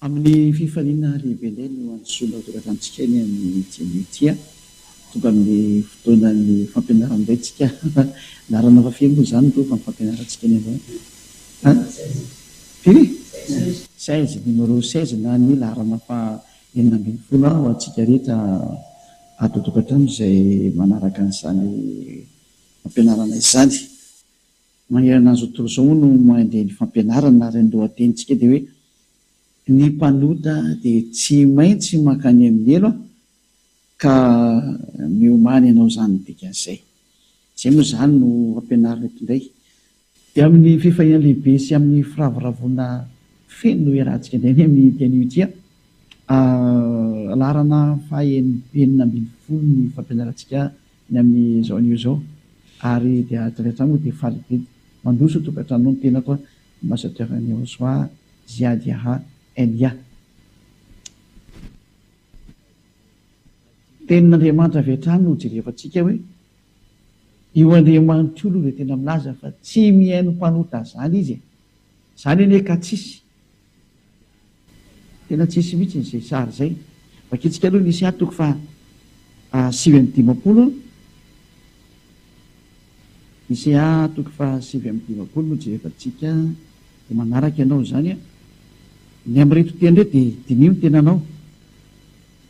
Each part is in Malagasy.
Amin'ny fifaliana lehibe indray no hanisolo toeran-tantsika eny amin'ity anio ity. Tonga amin'ny fotoanan'ny fampianarana indray tsika. Laharana faha firy moa izany ireo no fampianarantsika eny amin'io an? Firy? Seize, numéro seize na ny laharana faha Enina ambin'ny folo ah ho antsika rehetra ato an-tokantrano izay manaraka an'izany fampianarana izany. Manerana an'izao tontolo izao moa no mandeha ny fampianarana ary ny lohatenintsika dia hoe Ny mpanota dia tsy maintsy mankany amin'ny helo ah! Ka miomany ianao izany ny dikan'izay. Izay moa izany no ampianarin'ny mpindray. Dia amin'ny fifaliana lehibe sy amin'ny firavoravoana feno no iarahantsika indray ny amin'ity anio ity an! laharana faha enina ambin'ny folo ny fampianarantsika ny amin'izao anio izao. Ary dia avy hatrany moa dia faly be mandroso tokantranonao ny tenako an! Ambassadeur Nirosoa Ziadiaha NIA. Tenin'Andriamanitra avy hatrany no hojerevantsika hoe io Andriamanitra io aloha dia tena milaza fa tsy mihaino mpanota izany izy e! Izany anie ka tsisy, tena tsisy mihitsy izay sary izay. Vakintsika aloha ny Isa toko faha sivy amby dimampolo, Isa toko faha sivy amby dimampolo no jerevantsika. Dia manaraka ianao izany an! Ny amin'ireto teny ireto dia diniho ny tenanao.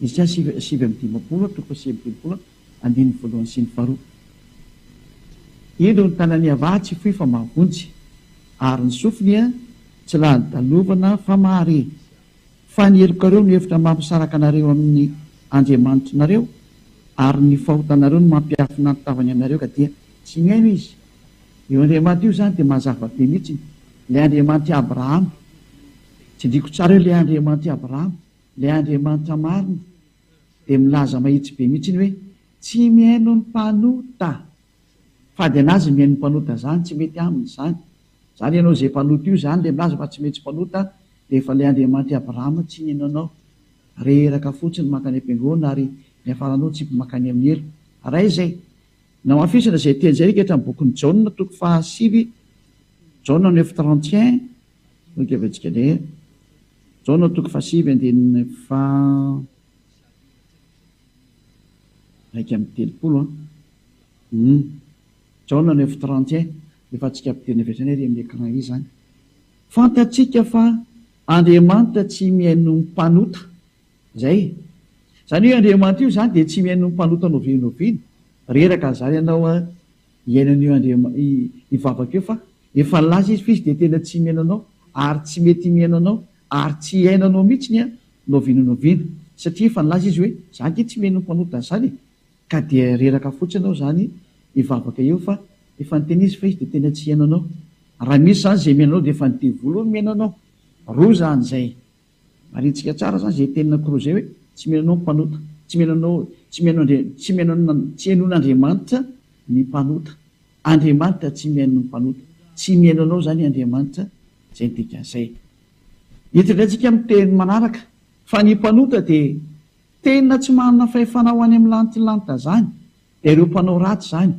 Esia sivy sivy amby dimampolo an, toko sivy amby telopolo an, andininy voalohany sy ny faharoa. Indro ny tanan'i Avah tsy fohy fa mahavonjy, ary ny sofiny tsy lany dalovana fa mahare. Fa ny helokareo no efitra mampisaraka anareo amin'ny Andriamanitrinareo, ary ny fahotanareo no mampiafina ny tavany aminareo ka dia tsy mihaino izy. Io Andriamanitra io izany dia mazava be mihitsiny, ilay Andriamanitr'i Abrahama. Tsindriako tsara io, ilay Andriamanitr'i Abrahama, ilay Andriamanitra marina, dia milaza mahitsy be mihitsiny hoe, Tsy mihaino ny mpanota. Fady anazy ny ain'ny mpanota zany tsy mety aminy zany zany ianao zay mpanota io zany le milaza fa tsy mety mpanota de efa le Andriamanitry Abraham tsy nino anao reraka fotsiny mankany ampengona ary niafaranao tsy mankany amin'ny helo ary aiza e namafisina zay teny zay rika hatramin'ny bokin'i Jaona toko faha sivy Jaona neuf trente et un no itevantsika le Jaona toko faha sivy andininy faha Iraika amby telopolo an! Humm! Jaona neuf trente et un efa tsika ampidirina avy hatrany ary amin'ny écran izy izany. Fantatsika fa Andriamanitra tsy mihaino ny mpanota. Izay e! Izany hoe Andriamanitra io izany dia tsy mihaino ny mpanota noviany noviany. Reraka izany ianao an! Iainana io Andriama i i vavaka io fa efa nilaza izy fa izy dia tena tsy himeno anao ary tsy mety himeno anao ary tsy hiaina anao mihitsy ny an no avy no noviana satria efa nilaza izy hoe za ange tsy meno ny mpanota an'izany e ka dia reraka fotsiny ao izany i vavaka io fa efa niteny izy fa izy dia tena tsy hiaino anao raha misy izany izay miaino anao dia efa ny devoly io no miaino anao roa izany izay Marintsika tsara zany ze tenina koroa zay hoe tsy mino anao ny mpanota, tsy mino anao, tsy mihaino andre, tsy mihaino an, tsy henoin' Andriamanitra ny mpanota, Andriamanitra tsy mihaino ny mpanota, tsy mihaino anao zany Andriamanitra, zay ny dikany zay. Eto indray tsika am teny manaraka fa ny mpanota de tenina tsy manana fahefana ho any am lantilanita zany, de reo mpanao ratsy zany.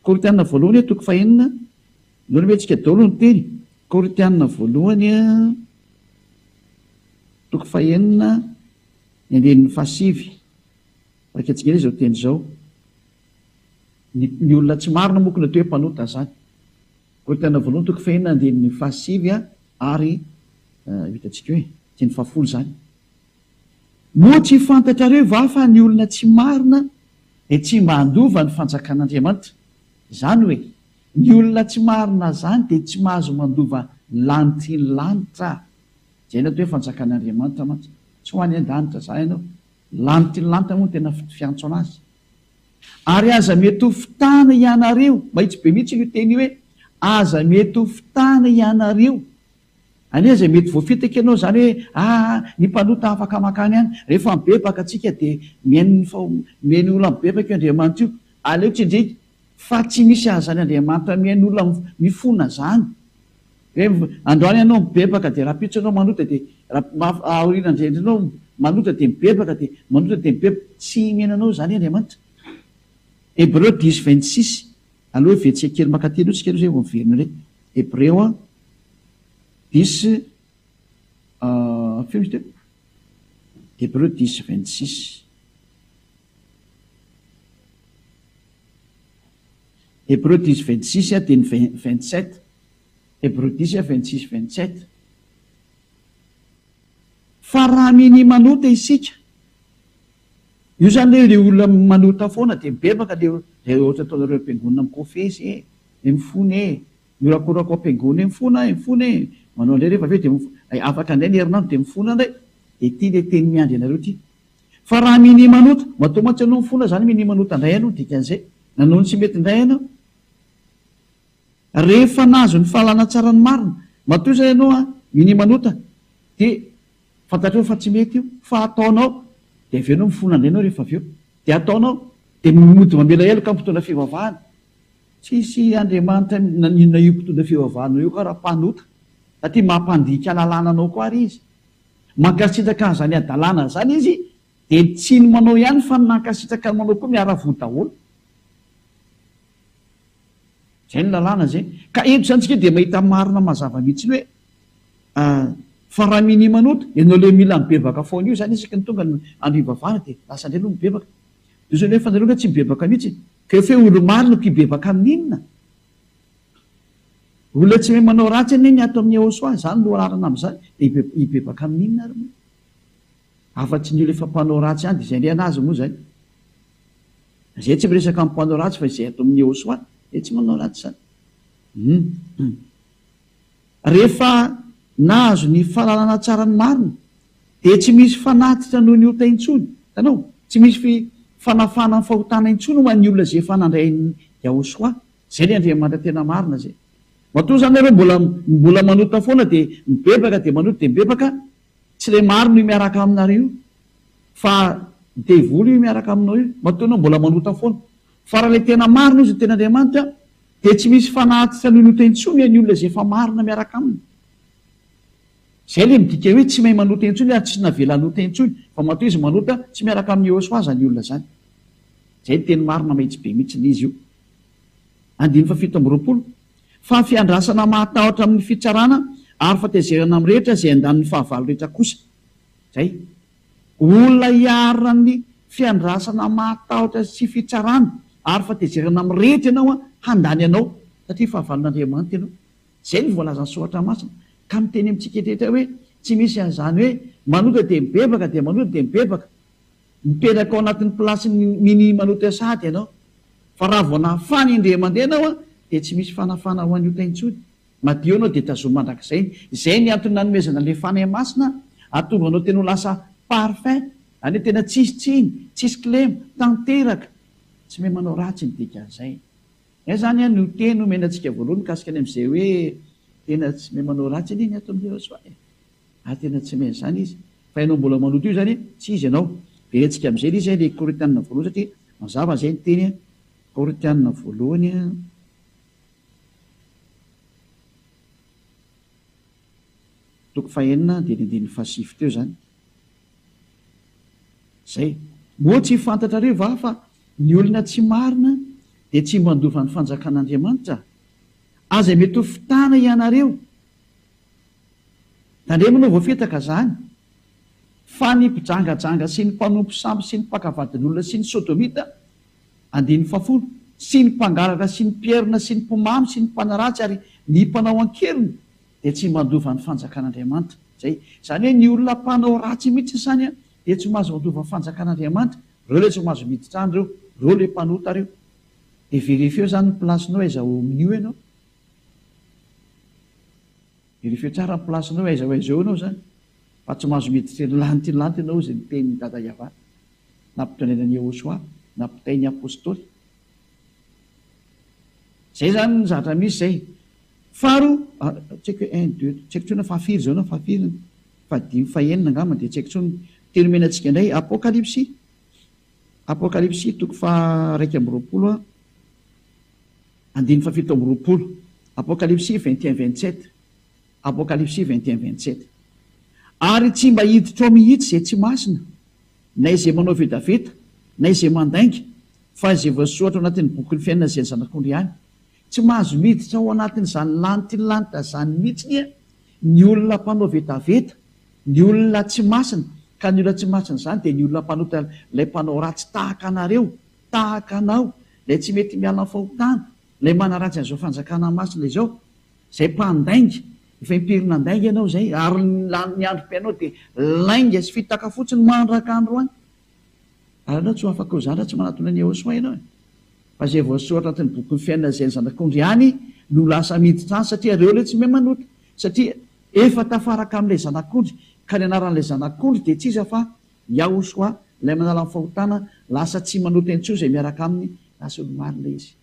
Korintiana voalohany toko fahenina. Noromentsika daholo ny teny, Korintiana voalohany toko fahenina ny andininy fahasivy, raika tsingera izao teny izao, ny ny olona tsy marina moa koa no atao hoe mpanota izany, Korintiana voalohany toko fahenina andininy fahasivy ary ho hitantsika hoe teny fahafolo izany. Moa tsy fantatrareo va fa ny olona tsy marina dia tsy mba handova ny fanjakan'Andriamanitra? Izany hoe Ny olona tsy marina zany dia tsy mahazo mandova lanitry ny lanitra zay ny atao hoe fanjakan'Andriamanitra mantsy tsy ho any andanitra zany ianao lanitry ny lanitra moa no tena fiantso anazy ary aza mety ho fitana ianareo mahitsy be mihitsy io teny io hoe aza mety ho fitana ianareo any aza mety voafitaka ianao zany hoe ah ny mpanota afaka makany any rehefa mibebaka atsika dia mihaino ny fa mihaino olona mibebaka io Andriamanitra io aleo tsindrika Fa tsy misy azany Andriamanitra mihaino olona mifona zany. Hoe androany ianao mibebaka dia rapitso ianao manota dia aoriana zay indray ianao manota dia mibebaka dia manota dia mibebaka. Tsy mihaino anao zany Andriamanitra. Hebreo dix vingt six, aleo hevetsika kely mankaty aloha tsika aloha zay vao miverina indray. Hebreo a, dix feo izy teo. Hebreo dix vingt six. Hebreo diz vingt six teny vingt sept Hebreo diz vingt six vingt sept Fa raha minia manota isika, io izany ilay hoe ilay olona manota foana dia mibebaka ilay izay ohatra ataonareo am-piangonana mikofesy e, dia mifona e, mihorakoraka ao am-piangonana eo mifona e, mifona e, manao an'ireny rehefa avy eo dia mifona, afaka indray ny herinandro dia mifona indray, dia ity ilay teny miandry anareo ity. Fa raha minia manota, matoa mantsy ianao mifona izany minia manota indray ianao, dikan'izay, nanao ny tsy mety indray ianao. Rehefa nahazo ny fahalana tsara ny marina, matoa izay ianao minia manota, dia fantatrao fa tsy mety io, fa hataonao, dia avy eo ianao mifona indray ianao rehefa avy eo, dia hataonao, dia mody mamela heloka ny mpitondra fivavahana. Tsisy Andriamanitra naninona io mpitondra fivavahana io ka raha mpanota, satria mampandika lalàna anao koa àry izy. Mankasitraka an'izany hadalana izany izy dia tsy ny manao ihany fa ny nankasitraka ny manao koa miara-voa daholo. Izay ny lalàna izay. Ka eto izany tsika dia mahita marina mazava mihitsy ny hoe fa raha minia manoto ianao ilay mila mibebaka foana io izany isaky ny tonga ny andro hivavahana dia lasa indray aloha mibebaka. Diso ny hoe fa nareo angaha tsy mibebaka mihitsy. Ka efa hoe olo-marina ko hibebaka amin'inona? Olona tsy mahay manao ratsy anie ny ato amin'ny Eosoa, izany no rarana amin'izany, dia hibebaka amin'inona ary moa? Afa-tsy ny olona efa mpanao ratsy ihany, dia izay indray an'azy moa izay. Izay tsy miresaka amin'ny mpanao ratsy fa izay ato amin'ny Eosoa, dia tsy manao ratsy izany. Hum. Rehefa nahazo ny fahalalana tsara ny marina, dia tsy misy fanatitra noho ny ota intsony. Hitanao? Tsy misy fanafahana ny fahotana intsony ho an'ny olona izay efa nandray an'i Yahosoa Zay le Andriamanitra tena marina zay. Matoa zany nareo mbola mbola manota foana de mibebaka de manota de mibebaka, tsy le marina io miaraka aminareo io fa devoly io miaraka aminao io matoa anao mbola manota foana. Fa raha le tena marina izy no tena Andriamanitra de tsy misy fanahy tsy hanonota intsony any olona zay efa marina miaraka aminy. Zay le midika hoe tsy mahay manota intsony ary tsy navela hanota intsony fa matoa izy manota tsy miaraka amin'i Yehoswa zany olona zany. Zay ny teny marina mahitsy be mitsiny izy io. andininy fahafito amby roapolo, fa fiandrasana mahatahotra amin'ny fitsarana ary fatezerana amin'ny rehetra izay andaniny fahavalo rehetra kosa izay. Olona hiarina amin'ny fiandrasana mahatahotra sy fitsarana ary fatezerana amin'ny rehetra ianao handany anao satria fahavalon'Andriamanitra ianao. Izay no voalazan'ny Soratra Masina ka miteny amintsika rehetra hoe tsy misy an'izany hoe manota dia mibebaka dia manota dia mibebaka. Mipetraka ao anatin'ny plasin'ny Mini Manotea Sahady ianao, fa raha vao nafana indray mandeha ianao dia tsy misy fanafana ho an'ny ota intsony. Madio ianao dia tazomy mandrakizay. Izay ny antony nanomezana an'ilay Fanahy Masina hahatonga anao tena ho lasa parfum, any hoe tena tsisy tsiny, tsisy kilema, tanteraka. Tsy mahay manao ratsy ny dikan'izay. Izay izany an no teny omena antsika voalohany mikasika ny amin'izay hoe tena tsy mahay manao ratsy anie ny ato amin'i Jesoa e. Ah tena tsy main zany izy fa ianao mbola maloto io zany tsy izy ianao de hetsika amizay le izy le koritianina voalohany satria mazava zay ny teny koritianina voalohany a toko fahenina de ny andininy fahasivy teo zany zay moa tsy fantatrareo va fa ny olona tsy marina de tsy mba handova ny fanjakan'Andriamanitra aza mety ho fitana ianareo Tandremana ho voafitaka izany, fa ny mpijangajanga sy ny mpanompo sambo sy ny mpaka vadin'olona sy ny sodomita, andininy fahafolo, sy ny mpangalatra sy ny mpierona sy ny mpimamy sy ny mpanaratsy ary ny mpanao an-keriny dia tsy mandova ny fanjakan'Andriamanitra. Izay, izany hoe ny olona mpanao ratsy mihitsy izany dia tsy mahazo mandova ny fanjakan'Andriamanitra, ireo ilay tsy mahazo miditra any ireo, ireo ilay mpanota ireo. Dia verifieo izany ny place-nao aiza ao amin'io ianao. Dia rehefa eo tsara ny place-nao aiza ho aiza eo ianao izany fa tsy mahazo miditra eny lantilanty ianao izay ny tenin'i Dada Yavah nampitondraina an'i Yehosua nampitain'ny Apostoly. Izay izany ny zavatra misy izay. Faharoa, ah, tsy haiko hoe un, deux, tsy haiko intsony fahafiry izao na fahafiry ny fahadimy, fahenina angamba dia tsy haiko intsony ny teny omena antsika indray, Apokalypsy, Apokalypsy toko faha iraika amby roapolo, Andininy fahafito amby roapolo, Apokalipsy vingt et un vingt sept, Apokalipsy vingt et un vingt sept. Ary tsy mba hiditra ao mihitsy izay tsy masina, na izay manao vetaveta, na izay mandainga, fa izay voasoratra ao anatin'ny bokin'ny fiainana izay ny Zanak'ondry ihany. Tsy mahazo miditra ao anatin'izany lanitry ny lanitra izany mihitsy anie ny olona mpanao vetaveta, ny olona tsy masina, ka ny olona tsy masina izany dia ny olona mpanota ilay mpanao ratsy tahaka anareo, Tahaka anao, ilay tsy mety miala amin'ny fahotana, ilay manaratsy an'izao fanjakana masina izao, izay mpandainga, efa impiry nandainga ianao izay, ary ny lanin'ny androm-piainao dia lainga sy fitaka fotsiny mandraka androany. Ary ianao tsy ho afaka ho zandry raha tsy manatona an'i Yehosua ianao e! Fa izay voasoratra anatin'ny bokin'ny fiainana izay ny zanak'ondry ihany no lasa miditra any, satria ireo ilay tsy mahay manota, satria efa tafaraka amin'ilay zanak'ondry, ka ny anaran'ilay zanak'ondry dia tsy iza fa Yahushua, Ilay manala ny fahotana, lasa tsy manota intsony izay miaraka Aminy, raha solomarina Izy.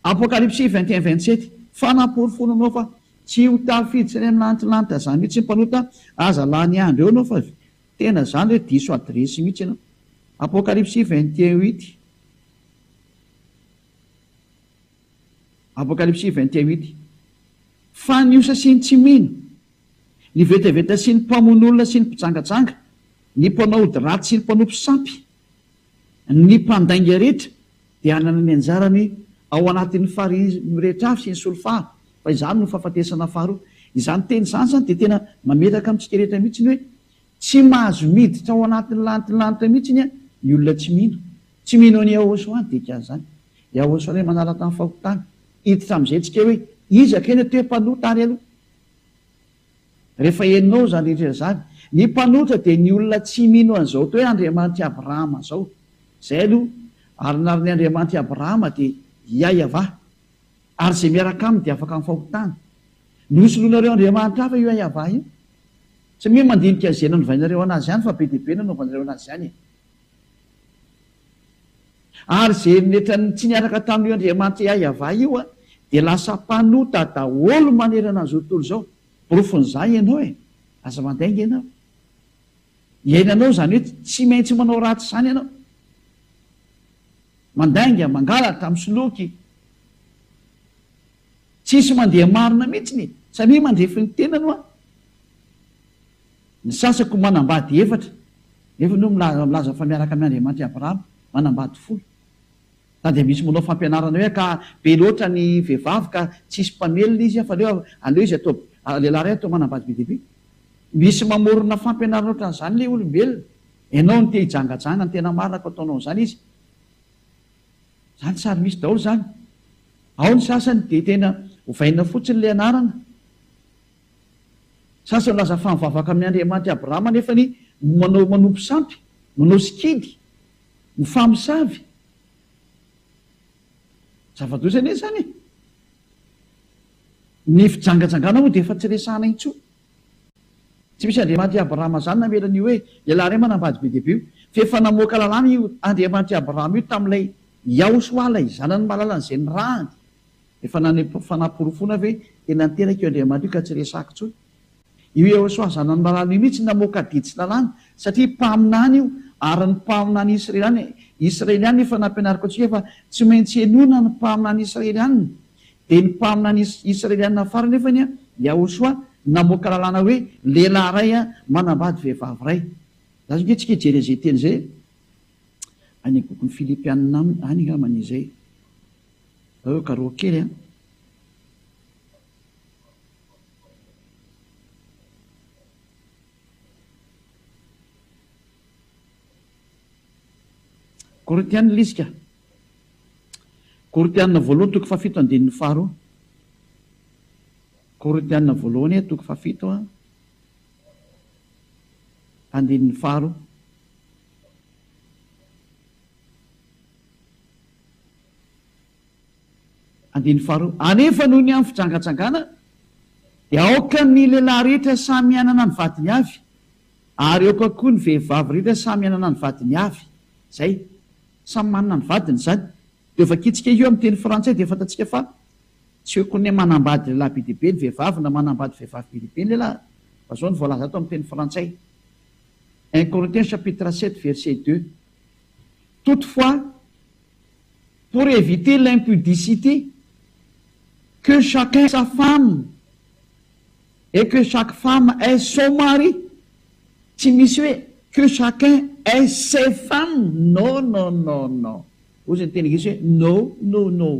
Apokalypsy vingt et un vingt sept, Fa namporofoiny anao fa tsy ho tafiditra any amin'ny lantilanitra izany mihitsy ny mpanota, aza lany andro eo ianao fa avy. Tena izany re, diso adiresy mihitsy ianao. Apokalypsy vingt et un huit, Apokalypsy vingt et un huit, Fa ny osa sy ny tsy mino, Ny vetaveta sy ny mpamono olona sy ny mpijangajanga, ny mpanao ody ratsy sy ny mpanompo sampy, ny mpandainga rehetra dia hanana ny anjarany ao anatin'ny farihy mirehitra avy sy ny solifara, fa izany no fahafatesana faharoa. Izany teny izany izany dia tena mamelaka amintsika rehetra mihitsy ny hoe tsy mahazo miditra ao anatin'ny lanitry ny lanitra mihitsy ny olona tsy mino. Tsy mino an'i Yahoshua ny dikan'izany. Yahoshua ilay manala tany fahotana. Hiditra amin'izay tsika hoe iza kay no toe-panota ary aloha. Rehefa henonao izany rehetra izany, ny mpanotra dia ny olona tsy mino an'izao atao hoe Andriamanitr'i Abrahama izao. Izay aloha, ary ny arin'ny Andriamanitr'i Abrahama dia i Yahavah, ary izay miaraka aminy dia afaka amin'ny fahotana. Nosoloinareo andriamanitra hafa io Yahavah io? Tsy mino mandinika izay nanovainareo an'azy ihany fa be dia be nanaovanareo an'azy ihany e! Ary izay eritreritran'ny tsy niaraka tamin'io Andriamanitra Iahiavah io dia lasa mpanota daholo manerana an'izao tontolo izao. Porofon'izany ianao e! Aza mandainga ianao. Iainanao izany hoe tsy maintsy manao ratsy izany ianao. Mandainga, mangalatra, misoloky. Tsisy mandeha marina mihitsy ny, samia mandrefy ny tenany hoa. Ny sasako manambady efatra, nefa enao milaza fa miaraka amin' Andriamanitra i Abrahama, manambady folo. Sa dia misy manao fampianarana hoe ka be loatra ny vehivavy ka tsy hisy mpamelona izy fa aleo aleo izy atao lehilahy iray atao manambady be dia be. Misy mamorona fampianarana ohatran'izany ilay olombelona. Enao no te hijangajanga ny tena marina ka ataonao an'izany izy. Izany sarimihitsy daholo izany. Ao ny sasany dia tena ovaina fotsiny ilay anarana. Sasany milaza fa mivavaka amin'ny Andriamanitra i Abrahama nefa ny manao manompo sampy, manao sikidy, mifamosavy. Zava-doza anie izany e! Ny fijangajangana moa dia efa tsy resahana intsony. Tsy misy Andriamanitra i Abrahama izany namela an'io hoe lehilahy iray manambady be dia be io, fa efa namoaka lalàna io Andriamanitra i Abrahama io tamin'ilay Iahosoa ilay zanany malalany izay nirahany Efa nanepo fanaporofoana ve tena niteraka io Andriamanitra io ka tsy resahako intsony? Io Yehosoa zanan'i Marano io mihitsy namoaka didy tsy lalàna satria mpaminany io ary ny mpaminany Israeliana Israeliana efa nampianariko antsika fa tsy maintsy henoina ny mpaminany Israeliana dia ny mpaminany Israeliana farany anefa ny Yahosoa namoaka lalàna hoe lehilahy iray manambady vehivavy iray za zao antsika hijery an'izay teny izay any bokin'ny Filipiana any angambany izay Nareo karoa kely an! Korintiana lisika, Korintiana voalohany toko fahafito andininy faharoa, Korintiana voalohany toko fahafito an, andininy faharoa. Andininy faharoa, Anefa noho ny amin'ny fijangajangana dia aoka ny lehilahy rehetra samy hanana ny vadiny avy, ary aoka koa ny vehivavy rehetra samy hanana ny vadiny avy. Izay. Samy manana ny vadiny izany. Io vakitsika io amin'ny teny frantsay dia fantatsika fa tsy hoe kone manambady lehilahy be dia be ny vehivavy na manambady vehivavy be dia be ny lehilahy, fa izao no voalaza ato amin'ny teny frantsay, Un Corinthiens chapitre sept verset deux. Toutefois, pour eviter l'impudicité, que chacun sa femme et que chaque femme ait son mari, tsy misy hoe que chacun ait ses femmes, no no no no, hoy izay niteny gasy hoe no no no,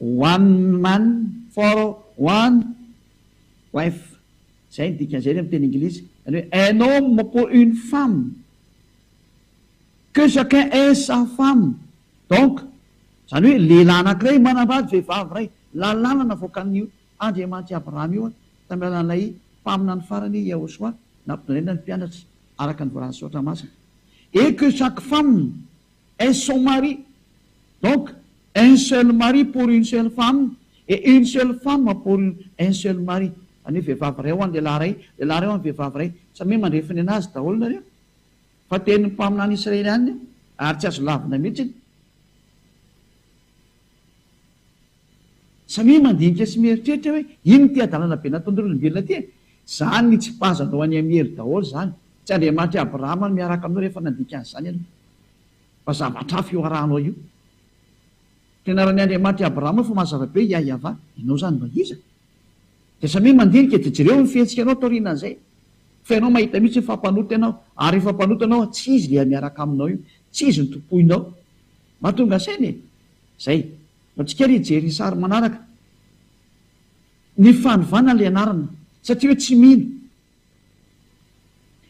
one man for one wife. Izay ny dikan'izay amin'ny teny Anglisy, izany hoe un homme pour une femme, que chacun ait sa femme, donc izany hoe lehilahy anankiray manambady vehivavy iray, lalàna navoakan'ny Andriamanitry Abrahama io tamin'ny alalan'ilay mpaminany farany Yahoshuah nampitondraina ny mpianatra araka ny voalazan'ny Soratra Masina, et que chaque femme ait son mari, donc. Un seul mari pour une seule femme et une seule femme pour une un seul mari, izany hoe vehivavy iray ho an'ny lehilahy iray, lehilahy iray ho an'ny vehivavy iray, samy hoe mandre finoana azy daholo nareo fa tenin'ny mpaminany israelianina io ary tsy azo lavina mihitsy, samia mandinika sy mieritreritra hoe ino ity hadalana be nataon'ireo olombelona ity e, izany nitsipazanao an'i Amiely daholo izany, tsy Andriamanitry Abrahama no miaraka aminao rehefa nandinika an'izany ianao. Fa zavatra hafa io arahanao io. Fianaran'ny Andriamanitra i Abrahama fa mazava be Yah Yavah. Ianao izany mba iza? Dia samia mandinika dia jereo ny fihetsikanao taorianan'izay. Fa ianao mahita mihitsy hoe fa mpanota ianao. Ary rehefa mpanota ianao an, tsy izy ilay miaraka aminao io. Tsy izy no tompoinao. Mba tonga saina e! Izay. Mba tsy kely hijery ny sary manaraka. Ny fanovana ilay anarana. Satria hoe tsy mino.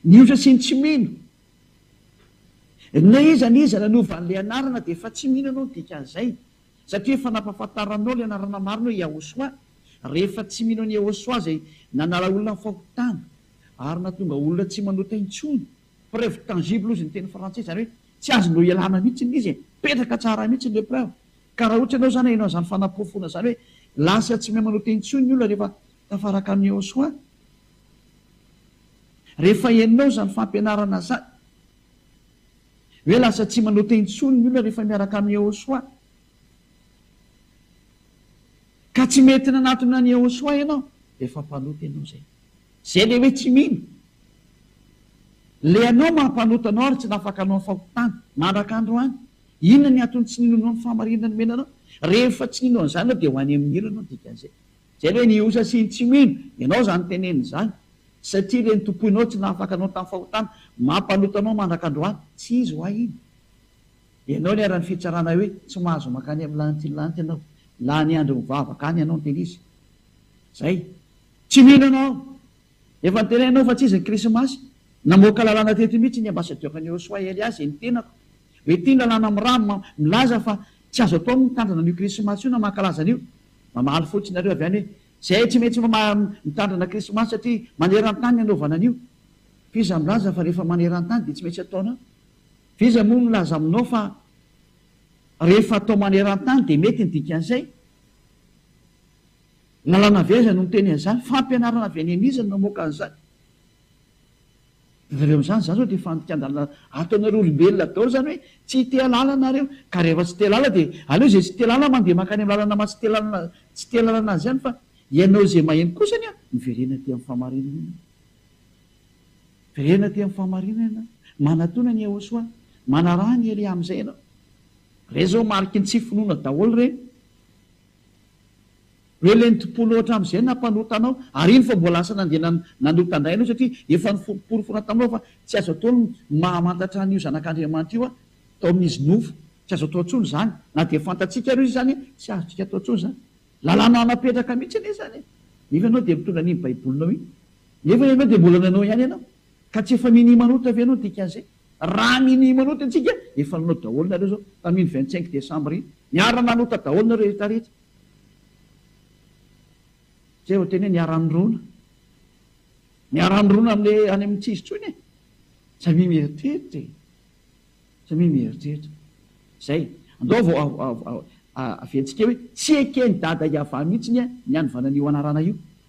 Ny osa sy ny tsy mino. Na iza na iza nanova an'ilay anarana dia efa tsy mino anao ny dikan'izay, satria efa nampahafantaranao ilay anarana marina hoe Yahoshuah, rehefa tsy mino an'i Yahoshuah izay nanala olona amin'ny fahotana ary nahatonga olona tsy manota intsony. Preuve tangible hozy ny teny frantsay, izany hoe tsy azonao ialana mihitsy ilay izy e! Mipetraka tsara mihitsy ny épreuve. Ka raha ohatra ianao izany hainao an'izany fanaporofona izany hoe lasa tsy mahay manota intsony ny olona rehefa tafaraka amin'i Yahoshuah, Rehefa henonao izany fampianarana izany, hoe lasa tsy manao teny intsony ny olona rehefa miaraka amin'i Yehôsoa, ka tsy mety nanatona an'i Yehôsoa ianao, dia efa mpanota ianao izay. Izay ilay hoe tsy mino. Ilay anao maha mpanota anao ary tsy nafaka hanao ny fahotana, mandraka androany. Inona ny antony tsy ninoanao ny fahamarinana nomena anao? Rehefa tsy nino an'izany ianao, dia ho any amin'ny helo ianao, dikan'izay. Zay ve ny osa sy ny tsy mino? Ianao zany tenenina izany satria ireny tompoinao tsy nahafaka anao tamin'ny fahotana mampaloto anao mandrak'androany. Tsy izy ho ahy iny. Ianao ny aran'ny fitsarana hoe tsy mahazo mankany amin'ny lanitry ny lanitra ianao. Lany andro mivavaka any ianao niteny izy zay. Tsy mino ianao. Efa noteneninao fa tsy izy ny krismasy. Namoaka lalàna teto mihitsy ny ambasadior'i Nirosoa Elias eny tenako hoe ity ny lalàna milaza fa tsy azo atao ny mitandrina an'io krismasy io na mankalaza an'io. Mamaly fotsiny nareo avy any hoe zahay tsy maintsy mitandrina krismasy satria manerantany ny anaovana an'io. F'iza milaza fa rehefa manerantany dia tsy maintsy ataonao? F'iza moa milaza aminao fa rehefa atao manerantany dia mety ny dikan'izay? Lalàna avy aiza no miteny an'izany? Fampianarana avy any an'iza no namoaka an'izany? Avy eo amin'izany, izany izao dia fandikan-dalana ato anareo olombelona daholo izany hoe tsy te-ha lala nareo, ka rehefa tsy te-lala dia aleo izay tsy te-lala mandeha mankany amin'ny lalana maha-tsy te-lala tsy te-lalana azy ihany fa ianao izay maheno kosa anie miverena aty amin'ny fahamarinana ianao. Miverena aty amin'ny fahamarinana ianao. Manatona an'i Yehôsoa, manaraha an'i Elia amin'izay ianao. Ireny izao mariky ny tsy finoana daholo ireny. Hoe lenti-po loatra amin'izay nampanota anao, ary iny vao mbola lasa nandeha nanota indray ianao, satria efa noporofoina taminao fa tsy azo atao ny mahamantatra an'io Zanak'Andriamanitra io tao amin'izy nofo. Tsy azo atao intsony izany. Na dia fantatsika ary izy izany, tsy azontsika atao intsony izany. Lalàna napetraka mihitsy anie izany e! Nefa ianao dia mitondra an'iny Baibolinao iny. Nefa ianao dia mbola nanao ihany ianao. Ka tsy efa mini manota ve no dikan'izay? Raha mini manota antsika efa nanao daholo nareo zao tamin'iny vingt cinq decembre iny. Niara nanota daholo nareo rehetra rehetra. Zay vao tena hoe niara nirona. Niara nirona amle any amin'ny tsy izy intsony e. Samia mieritreritra e. Samia mieritreritra. Zay. Andao vao aventsika hoe tsy eken'i dada Yava mihitsy ny hanovana an'io anarana io.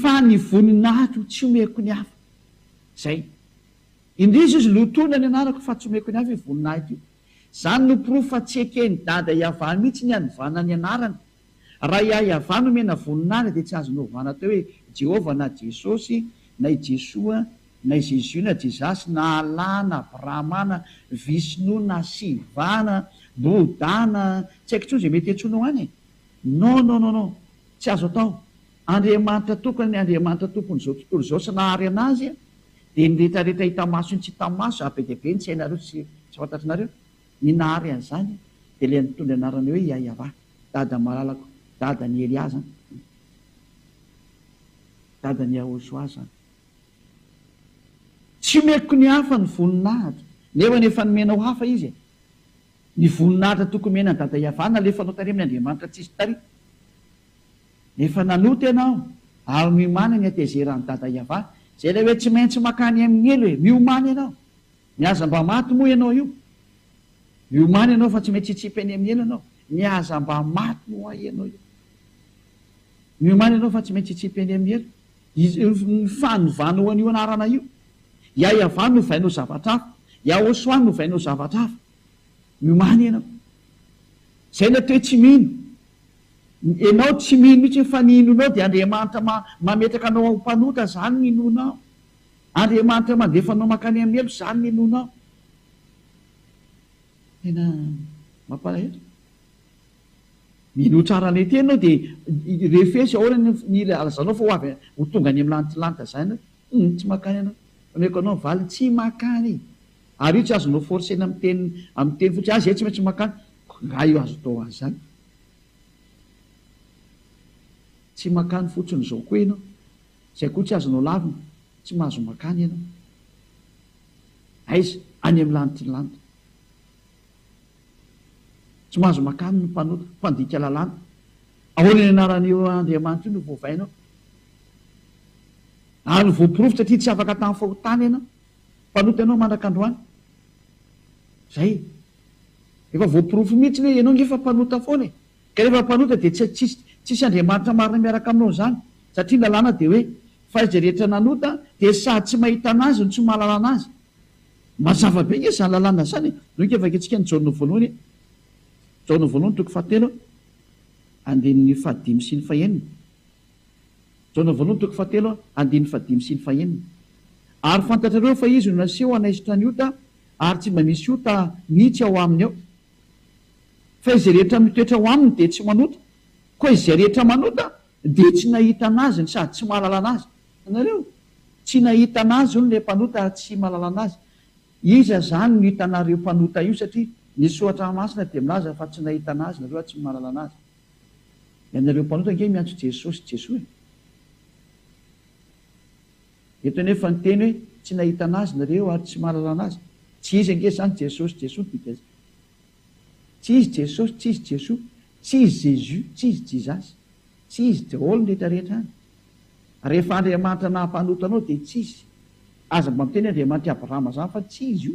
Fa ny voninahiko no tsy omeko ny hafa. Izay. Indrisy izy, lotoina ny anarako fa tsy omeko ny hafa io voninahiko io. Izany no porofo fa tsy eken'i Dada i Avah mihitsy ny hanovana ny anarany. Raha i Ahy Avah no omena voninahitra dia tsy azony ovana atao hoe Jehovah na Jesosy na i Jesoa na i Zezio na Jesasy na Allah na Brahma na Vishnu na Shiva na Bouddha na tsy haiko intsony izay mety hiantsoanao any e. Non non non non tsy azo atao Andriamanitra tokana ny Andriamanitra tompon'izao tontolo izao sy nahary anazy dia ny rehetra rehetra hita maso sy tsy hita maso ary be dia be ny tsy hainareo sy tsy fantatrnareo ny nahary an'izany dia ilay nitondra ny anarana hoe Yayava dada malalako dada ny Elia zany dada ny Yahoshua zany tsy omeko ny hafa ny voninahitra nefa ny efa nomenao hafa izy e. Ny voninahitra tokony homena an'i Dada Iavana alefa anao tary amin' Andriamanitra tsisy tary. Efa nanota ianao ary miomana ny hatezera an'i Dada Iavana. Izay ilay hoe tsy maintsy makany amin'ny helo e! Miomana ianao. Ny aza mba maty moa ianao io. Miomana ianao fa tsy maintsy hitsipy any amin'ny helo ianao. Ny aza mba maty moa ho'a ianao io. Miomana ianao fa tsy maintsy hitsipy any amin'ny helo. Ny fanovana ho an'io anarana io. I Ahiavà no ovaina ho zavatra hafa, i Ahosoa no ovaina ho zavatra hafa. Miomàna ianao. Izay ilay toe tsy mino. Ianao tsy mino mihitsy fa ny inoanao dia Andriamanitra mametraka anao ho mpanota, izany no inoanao. Andriamanitra mandefa anao mankany amin'ny helo, izany no inoanao. Tena mampalahelo. Mino ho tsara an'ity ianao dia refesy ahoana ny ilazanao fa ho avy ho tonga any amin'ny lanitra lanitra izany ianao. Humm tsy makany anao. Omeko anao valiny tsy makany. Ary io tsy azonao forcer-na amin'ny teny amin'ny teny fotsiny, ah zay tsy maintsy makany. Ko nga io azo atao ho azy zany? Tsy makany fotsiny zao koa ianao. Zay koa tsy azonao lavina, tsy mahazo makany ianao. Aiza? Any amin'ny lanitry ny lanitra. Tsy mahazo makany ny mpanota, mpandika lalàna. Ahoana ny anaran'io Andriamanitra io no voavainao ary voaporofo satria tsy afaka tamin'ny fahotana ianao, mpanota ianao mandraka androany. Zay. Efa voaporofo mihitsy hoe ianao nge fa mpanota foana e. Ka rehefa mpanota dia tsy tsisy tsisy Andriamanitra marina miaraka aminao izany satria ny lalàna dia hoe fa izay rehetra nanota dia sady tsy mahita anazy no tsy mahalala anazy. Mazava be nge izany lalàna izany e. Noho ny kevaketsika ny Jaona voalohany, Jaona voalohany toko fahatelo. Andininy fahadimy sy ny fahenina. Jaona voalohany toko fahatelo andininy fahadimy sy ny fahenina. Ary fantatrareo fa izy no naseho hanaisotra ny ota, ary tsy mba misy ota mihitsy ao aminy ao. Fa izay rehetra mitoetra ao aminy dia tsy manota, koa izay rehetra manota dia tsy nahita anazy no sady tsy mahalala anazy. Hitanareo? Tsy nahita anazy hono ilay mpanota ary tsy mahalala anazy. Iza zany no hitanareo mpanota io satria ny soratra masina dia milaza fa tsy nahitana azy nareo ary tsy mahalala anazy. Ianareo mpanota ange miantso Jesosy Jesoa e. Eto anefa ny teny hoe tsy nahitana azy nareo ary tsy mahalala anazy. Tsy izy ange zany Jesosy Jesoa no dika zany. Tsy izy Jesosy, tsy izy Jesoa, tsy izy Jésus, tsy izy Jizasy, tsy izy daholo ny retraretra any. Rehefa Andriamanitra nahampanota anao dia tsy izy. Aza mba miteny Andriamanitra i Abrahama izany fa tsy izy io.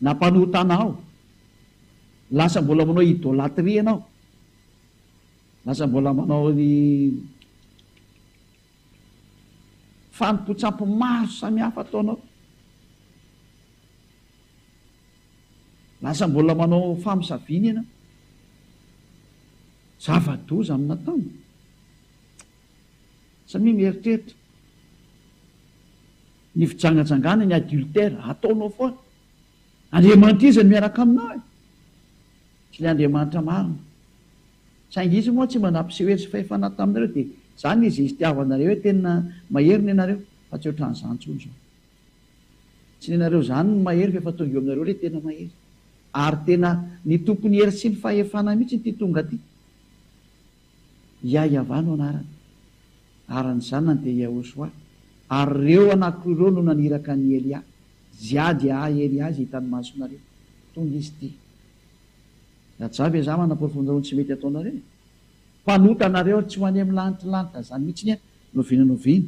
Nampanota anao. Lasa mbola manao idolatria ianao. Lasa mbola manao ny fanompoan-tsampy maro samihafa ataonao. Lasa mbola manao famosaviana ianao. Zava-doza amin'ny nataony. Samia mieritreritra ny fijangajangana ny adultère ataonao foana. Andriamanitra iza no miaraka aminao e? Tsy ilay Andriamanitra marina. Saingy izy moa tsy mba nampiseho hery sy fahefana taminareo dia izany izy iztiavanareo hoe tena mahery ny anareo fa tsy ohatran'izany intsony izao. Tsy nenareo zany ny mahery fa efa tonga eo aminareo le tena mahery. Ary tena ny tompony hery sy ny fahefana mihitsy ity tonga ty. Yayava no anarany. Ary ny zanany dia Yahoshuah. Ary reo anakoroa reo no naniraka an'i Elia. Ziady hahay Elia izay hitan'ny masonareo. Tonga izy ty. Lajava e za manaporofon-dreo ny tsy mety ataonareo e. Mpanota nareo ary tsy ho any amin'ny lanitry lanitra zany mihitsy ny a noviana noviana.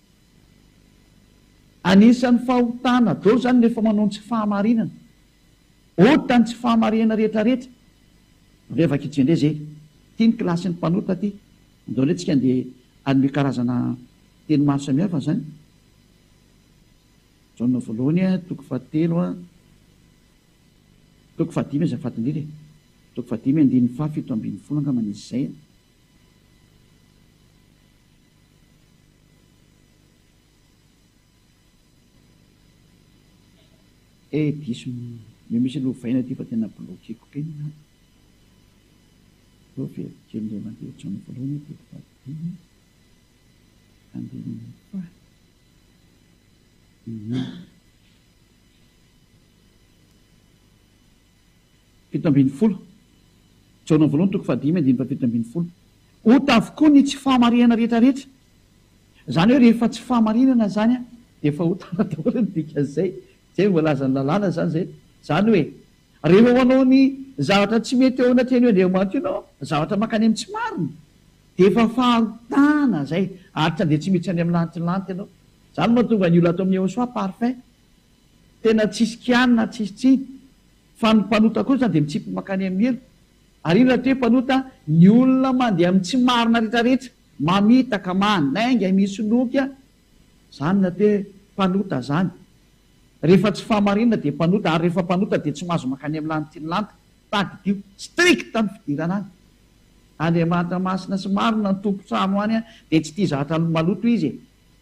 Anisan'ny fahotana daholo izany ny rehefa manao ny tsy fahamarinana. Ota ny tsy fahamarinana rehetra rehetra. Andao efa kitsy indray izay. Ity ny kilasin'ny mpanota ity. Andao indray tsika andeha hanome karazana teny maro samihafa izany. Jaona voalohany a, toko fahatelo a, toko fahadimy aza fadin'ila e. Toko fahadimy andininy faha fito ambin'ny folo angamba nisy izay. Eh diso ny misy lovaina aty fa tena bloqueko be ny anaty. Aleo averiko kely indray mandeha ohatran'ny voalohany aho teto Vadibeny a. Andehanan'ny Apa a. Fito ambin'ny folo, Jaona voalohany toko fahadimy andininy fahafito ambin'ny folo. Ota avokoa ny tsy fahamarinana rehetra rehetra. Izany hoe rehefa tsy fahamarinana izany dia efa ota daholo ny dikan'izay. Tsy hay voalazan'ny lalàna izany izay. Izany hoe rehefa manao ny zavatra tsy mety eo anatrehan'io Andriamanitra io ianao, zavatra mankany amin'ny tsy marina, dia efa fahotana izay. Aritra dia tsy miditra any amin'ny lanitry ny lanitra ianao. Izany no mahatonga an'io lato amin'ny Yehosoa parfait. Tena tsisy kianina, tsisy tsiny. Fa ny mpanota kosa dia mitsimpy mankany amin'ny helo. Ary inona ity hoe mpanota? Ny olona mandeha amin'ny tsy marina rehetrarehetra, mamitaka, manainga, misoloky a! Izany no atao hoe mpanota izany. Rehefa tsy fahamarinana dia mpanota, ary rehefa mpanota dia tsy mahazo mankany amin'ny lany tian'ny lanitra. Tadidio, strict ny fidirana any. Andriamanitra masina sy marina ny tompon-trano any dia tsy tia zahatra maloto izy e!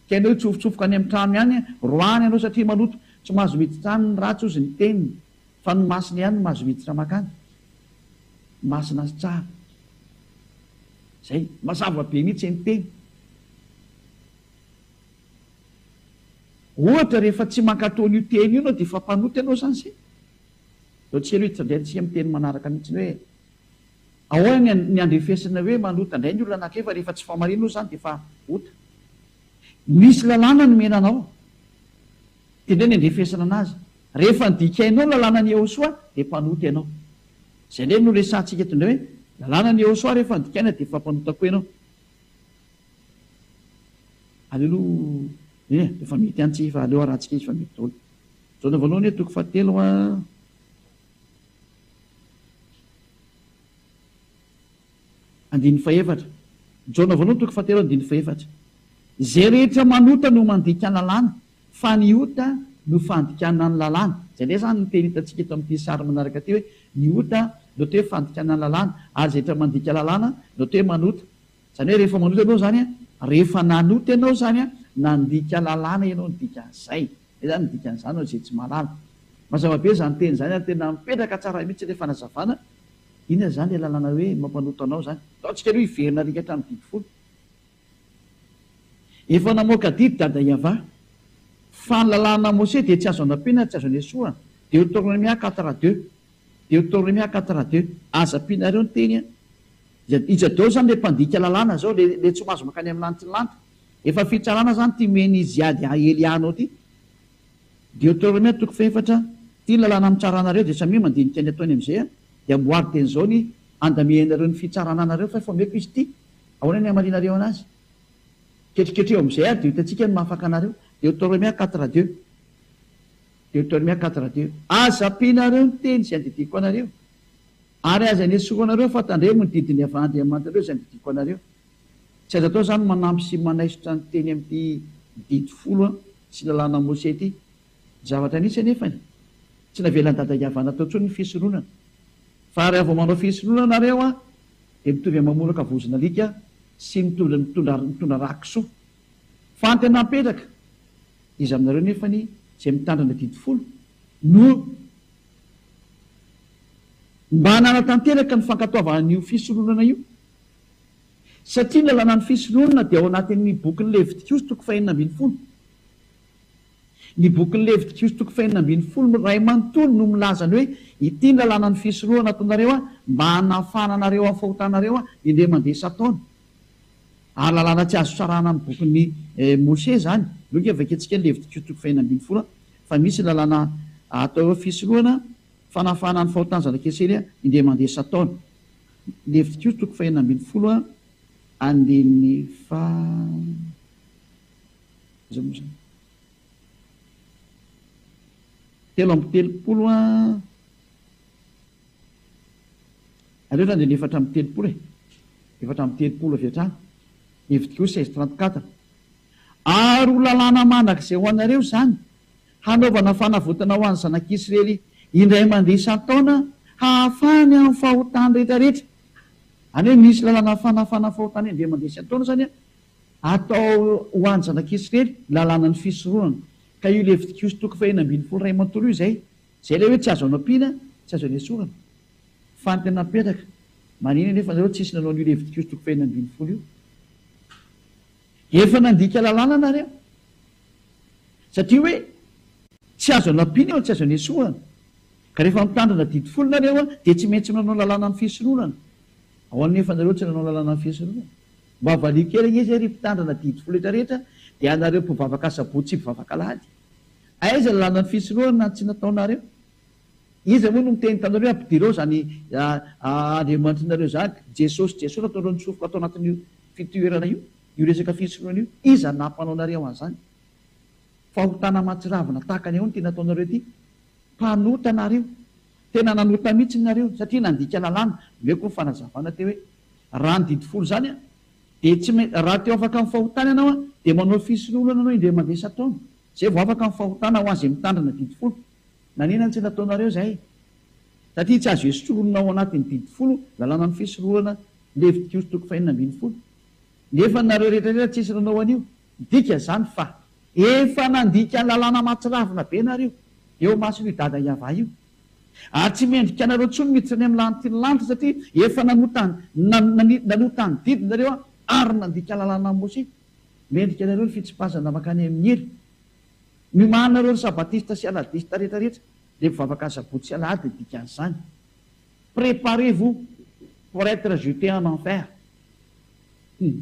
Tsy hainao hitsofotsofoka any amin'ny trano ihany roahany ianao satria maloto. Tsy mahazo miditra any ny ratsy hozy ny teniny fa ny masina ihany no mahazo miditra makany. Masina sy tsara. Zay. Mazava be mihitsy ny teny. Ohatra rehefa tsy mankatò an'io teny io ianao dia efa mpanota ianao zany zay. Zao tsy ela io hitrandraintsika amin'ny teny manaraka mihitsy ny hoe. Ahoana ny andrefesana hoe manota indray ny olona anankiray fa rehefa tsy fahamariana osa izany dia efa ota? Misy lalàna nomena anao dia indray ny andrefesana anazy. Rehefa nodikainao ny lalànan'i Yehosua dia mpanota ianao. Izay indray no resahantsika eto indray hoe ny lalànan'i Yehosua rehefa nodikaina dia efa mpanota koa ianao. Aleloia! Eny e, efa mety ihany tsika fa aleo harahantsika izy fa mety daholo. Jaona voalohany hoe toko fahatelo a. Andininy fahefatra, Jaona voalohany toko fahatelo andininy fahefatra, Izay rehetra manota no mandika ny lalàna, fa ny ota no fandikana ny lalàna. Izay indray izany no teny hitantsika eto amin'ity sary manaraka ity hoe ny ota no atao hoe fandikana ny lalàna ary izay rehetra mandika lalàna no atao hoe manota. Izany hoe rehefa manota ianao izany, rehefa nanota ianao izany, nandika lalàna ianao ny dikan'izay. Izay izany ny dikan'izany ho an'izay tsy mahalala. Mazava be izany teny izany ary tena mipetraka tsara mihitsy ilay fanazavana. Inona izany ilay lalàna hoe mampanota anao izany? Ataontsika aloha hiverina rika hatramin'ny didy folo. Efa namoaka didy Dada Yava, fa ny lalàna Mose dia tsy azo anampiana ary tsy azo anesoana. Deoteronomia quatre a deux. Deuteronomie à quatre à deux aza ampianareo ny teny an! Iza iza daolo zany le mpandika lalàna zao le le tsy mahazo mankany am lanitry ny lanitra? Efa fitsarana zany ty mihena izy hiady a Elianao ty. Deuteronomie toko fahefatra Ty ny lalàna amitsarànareo de samia mandinika ny ataony amizay a de amboary teny zao ny andamianareo ny fitsarana anareo fa efa omeko izy ty ahoana ny hamalianareo anazy? Ketriketreho amizay ary de ho hitantsika ny maha afaka anareo Deuteronomie à quatre à deux. Deuteronomia quatre à deux, Aza ampianareo ny teny izay andidiako anareo, ary aza anesorao anareo fa tandremo ny didin'i Yaveh Andriamanitrareo izay andidiako anareo. Tsy azo atao izany ny manampy sy manaisotra ny teny amin'ity Didy folo sy ny Lalàna Mose ity. Zavatra nisy anefa ny, tsy navelan'i Dadan'i Yaveh natao intsony ny fisoronana. Fa raha vao manao fisoronana ianareo dia mitovy amin'ny mamoraka vozon'alika sy mitondra mitondra mitondra rà kisoa. Fa ny tena mipetraka, iza aminareo nefany izay mitandrina ny adidy folo no mba nanatanteraka ny fankatoavana an'io fisondronana io? Satria ny lalànan'ny fisondronana dia ao anatin'ny bokin'ny Levitikoso toko fahenina ambin'ny folo. Ny bokin'ny Levitikoso toko fahenina ambin'ny folo iray manontolo no milaza ny hoe, Ity ny lalànan'ny fisondronana ataonareo mba hanafahana anareo amin'ny fahotanareo indray mandeha isan-taona. Ara-lalàna tsy azo sarahana ny bokin'i Mosè izany. Aloha ve vakiantsika ny Levitiko toko fahefatra ambin'ny folo fa misy ny lalàna atao hoe fisorohana fanafahana ny fahotan'ny zanak'Israely indray mandeha isan-taona. Levitiko toko fahefatra ambin'ny folo andininy faha. Telo amby telopolo. Aleo zany dia ny efatra amby telopolo e! Efatra amby telopolo avy hatrany, hevitriko hoe seize trente quatre. Ary ho lalàna mandrakizay ho anareo izany, hanaovana fanavotana ho an'ny zanak'Israely indray mandeha isan-taona hahafahany amin'ny fahotany rehetrarehetra. Any hoe misy lalàna fanafahana fahotany indray mandeha isan-taona izany an, atao ho an'ny zanak'Israely, lalànan'ny fisorohana. Ka io levitikosy toko fahenina ambin'ny folo iray manontolo io izay. Zay ilay hoe tsy azo anampiana, tsy azo anesorana. Fa ny tena napetraka, marina anie fa nareo tsisy nanao an'io Levitikosy toko fahenina ambin'ny folo io. Efa nandika lalàna nareo. Satria hoe tsy azo anampiana eo no tsy azo anesorana. Ka rehefa mitandrina didy folo nareo dia tsy maintsy manao lalàna ny fisoronana. Ahoana anefa nareo tsy nanao lalàna ny fisoronana? Mba valiho kely anie izay ry mpitandrina didy folo retraretra dia anareo mpivavaka sabotsy sy mpivavaka alahady. Aiza ny lalana fisorohana ny tsy nataonareo? Iza moa no niteny taminareo hoe ampidirao izany Andriamanitrnareo izany, Jesosy Jesosy nataonareo nitsofoka tao anatin'io fitoerana io, io resaka fisorohana io? Iza no nampanaonareo an'izany? Fahotana mahatsiravina tahaka ny ahoana ity nataonareo ity? Mpanota nareo! Tena nanota mihitsy nareo satria nandika lalàna, omeko ny fanazavana teo hoe raha ny didy folo izany Dia tsy me, raha te ho afaka amin'ny fahotana ianao an, dia manao fisoloana anao indray mandeha isan-taona, izay vao afaka amin'ny fahotana ho an'izay mitandrina didy folo. Nanenany tsy nataonareo izay. Satria tsy azo hesorina ao anatin'ny didy folo ny lalànan'ny fisoloana Levitikoso toko fahenina ambin'ny folo. Nefa nareo rehetra rehetra tsisy nanao an'io. Midika izany fa efa nandika ny lalàna mahatsiravina be nareo eo imason'io dada Yavah io. Ary tsy mendrika anareo intsony miditra any amin'ny lanitry ny lanitra, satria efa nanota ny nanota ny didy nareo ary nandika lalàna an'i Mosè. Mendrika anareo ny fitsipazana mankany amin'ny hery. Miomana nareo ry sabatista sy aladista rehetra rehetra, dia mivavaka asabotsy sy alahady ny dikan'izany. Préparez vous pour être jeté en enfer. Hum.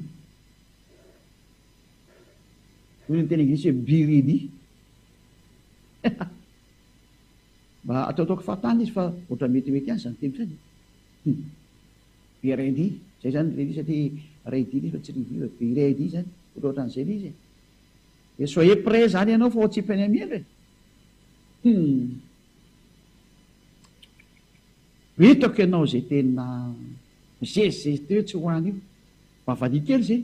Hoy ny teny anglisy hoe be ready. Mba ataotaoko fahatany izy fa ohatran'ny metimety ihany izany teniko izany e! Be RD izay izany ilay izy satria RD ilay izy fa tsy review e! Be RD izany, ohatraohatran'izay ilay izy e! Dia soyez prêt izany ianao fa ao an-tsipan'i Amielo e! Humm! Hitako ianao izay tena mizezizezi teo tsy ho any io! Mba valiha kely izay!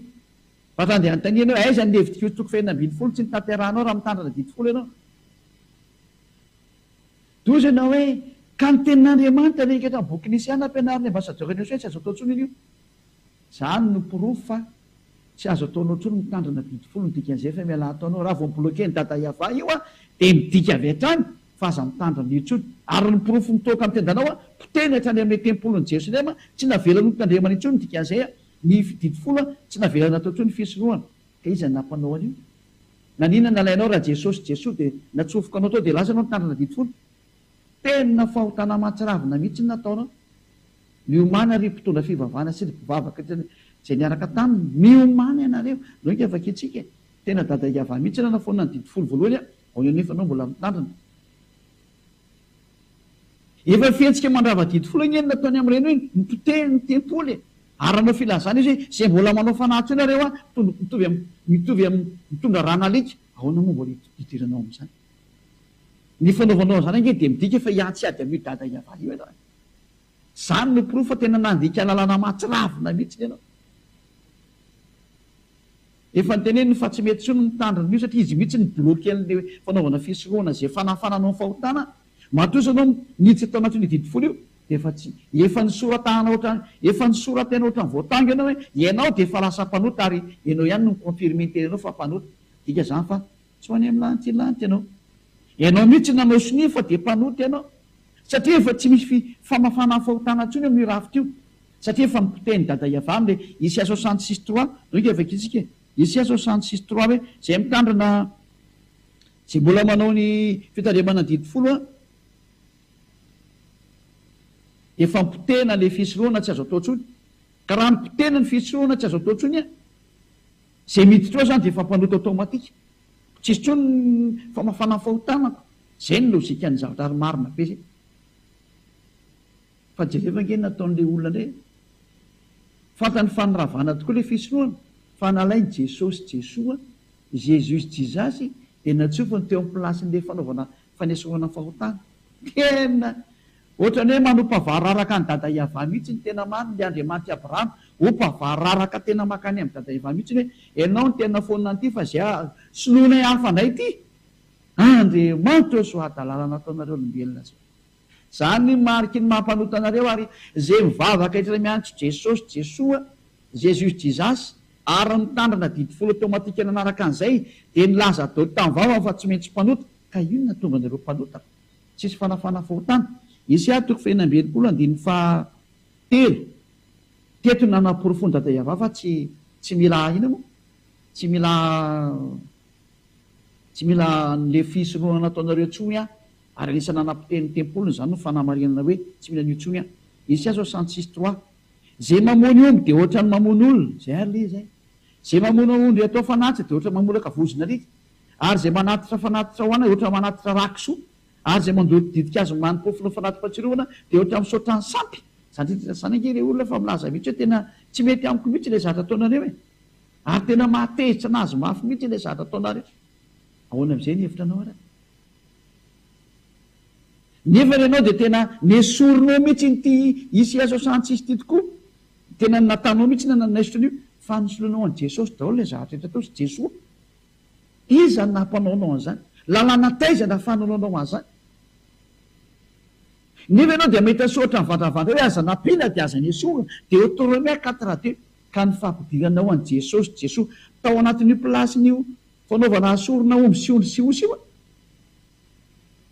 Fa raha andeha hanontania ianao hoe aiza ny levidik'io toko fahefna ambin'ny folo tsy notanterahanao raha mitandrina didy folo ianao? Toy izay na hoe, Ka ny tenin'Andriamanitra ve ingahy ka boky nisy ihany nampianarin'ny ambasadaoran'i Eosya tsy azo atao intsony io? Izany no porofo fa tsy azo ataonao intsony mitandrina didy folo ny dikan'ny zefa mialà ataonao raha vao mi-bloquer ny dada yavah io aho dia midika avy hatrany fa aza mitandrina io intsony ary ny porofo mitoaka amin'ny tendanao aho potehiny hatrany amin'ny tempolin'i Jerosalema tsy navelany ho tandremana intsony ny dikan'izay aho ny didy folo aho tsy navelany natao intsony ny fisorohana ka iza no nampanao an'io? Naninona nalainao raha Jesosy Jesoa dia natsofoka anao tao dia lasa anao nitandrina didy folo? Tena fahotana aman-tsiravina mihitsy ny nataonao. Miomana ry mpitondra fivavahana sy ry mpivavaka izay niaraka taminy, miomana ianareo. Ndao ingahy vakiantsika e! Tena dada Iavah mihitsy raha nafoanana ny didy folo voalohany aho, aorian'io efa anao mbola mitandrina. Efa fihetsika mandrava-didy foana anie ny nataony amin'ireny hoe nipoteha ny tempoly e! Ary nanao filazana izy hoe izay mbola manao fanahy teo nareo an, mitombo mitovy amin'ny mitovy amin'ny mitondra ran'alika, ahoana moa mbola hidiranao amin'izany? Ny fanaovanao an'izany ange dia midika fa hiatsy hiady amin'io dada hiavahana io ianao e! Izany no porofo fa tena nandika lalana mahatsiravina mihitsy ianao. Efa noteneniny fa tsy mety intsony ny mitandrina an'io satria izy mihitsy nibloquer an'ilay fanaovana fisoloana izay fanafana anao fahotana, matoa izao ianao niditra tao anatin'io didy folo io dia efa tsy, efa nisoratahana ohatrany, efa nisoratena ohatrany voatango ianao hoe ianao dia efa lasa mpanota ary ianao ihany no mi-confirmer ny tenanao fa mpanota, midika izany fa tsy ho any amin'ny lantihy lanty ianao, ianao mihitsy nanao sonia fa dia mpanota ianao satria efa tsy misy famafana fahotana intsony eo amin'io rafitra io. Satria efa nipotehiny dada i Avram le Isia soixante six trois zao ika vakio tsika e Isia soixante six trois hoe zay mitandrina zay mbola manao ny fitandremana didy folo a de efa nipotehina le fisorohana tsy azo atao tsony ka raha nipotehina ny fisorohana tsy azo atao tsony a zay miditra ao zany de efa mpanota automatique tsisy tsony ny famafana ny fahotanako zay ny logique ny zavatra ary marina be zay. Fa jereo ve nge ny nataon'le olona nge. Fantany fa niravana tokoa le fisorohana fa nalainy Jesosy Jesoa, Jesus Jesus, de natsofony teo am plasin'le fanaovana fanesorana fahotana. Tena Otrany hoe manompa vararaka any Dada Yavah mihitsy ny tena marina le Andriamanitry Abraham ompa vararaka tena makany am Dada Yavah mihitsy ny hoe enao ny tena fonona an'ity fa ze soloinay hafa ndray ty Andriamanitra o soa hadalalana ataonareo olombelona zao. Zany ny mariky ny maha mpanota anareo ary ze mivavaka etra miantso Jesosy Jesoa, Jesus Jesus, ary mitandrina didy folo automatique nanaraka an'izay dia nilaza dot tamin'ny vavany fa tsy maintsy mpanota ka io no nahatonga anareo mpanota fa tsisy fanafahana fahotana. Isa toko fahefany amby enimpolo andininy faha telo, teto no nanaporofoan'i Dada Yavah fa tsy tsy mila inona moa? tsy mila tsy mila an'le fisorohana nataonareo tsoy an! Ary anisan'ny nanapotehiny ny tempoliny izany no fanamarinana hoe tsy mila an'io intsony aho. Isia zao cent six trois. Ze mamono omby dia ohatrany mamono olona. Zay ary le zay. Ze mamono ondry atao fanatitra dia ohatrany mamolaka vozon'alika. Ary ze manatitra fanatitra ho anay ohatrany manatitra rakisoa. Ary ze mandoro ditin-kazo manimpofon'ny fanati-patsirovana dia ohatrany misaotra ny sampy. Za ndrindra ndray zany ange le olona fa milaza mihitsy hoe tena tsy mety amiko mihitsy ilay zatra ataonareo e! Ary tena mahatezitra anazy mafy mihitsy ilay zatra ataonareo. Ahoana amin'izay ny hevitra anao ary? Nefa ianao dia tena nesorinao mihitsy iny ity Isiaso Santsisy ity tokoa. Tena ny nataonao mihitsy na nanaisotra an'io fa nosoloinao an'i Jesosy daholo ilay zavatra rehetra tao sy Jesoa. Iza no nampanaonao an'izany? Lalàna taiza no ahafahanao an'izany? Nefa ianao dia mahita soratra mivandravandra hoe aza nampiana dia aza nesorina dia eo Toromia quatre-deux ka ny fampidiranao an'i Jesosy Jesoa tao anatin'io place-ny io Fanaovana asorina omby sy ondry sy osy io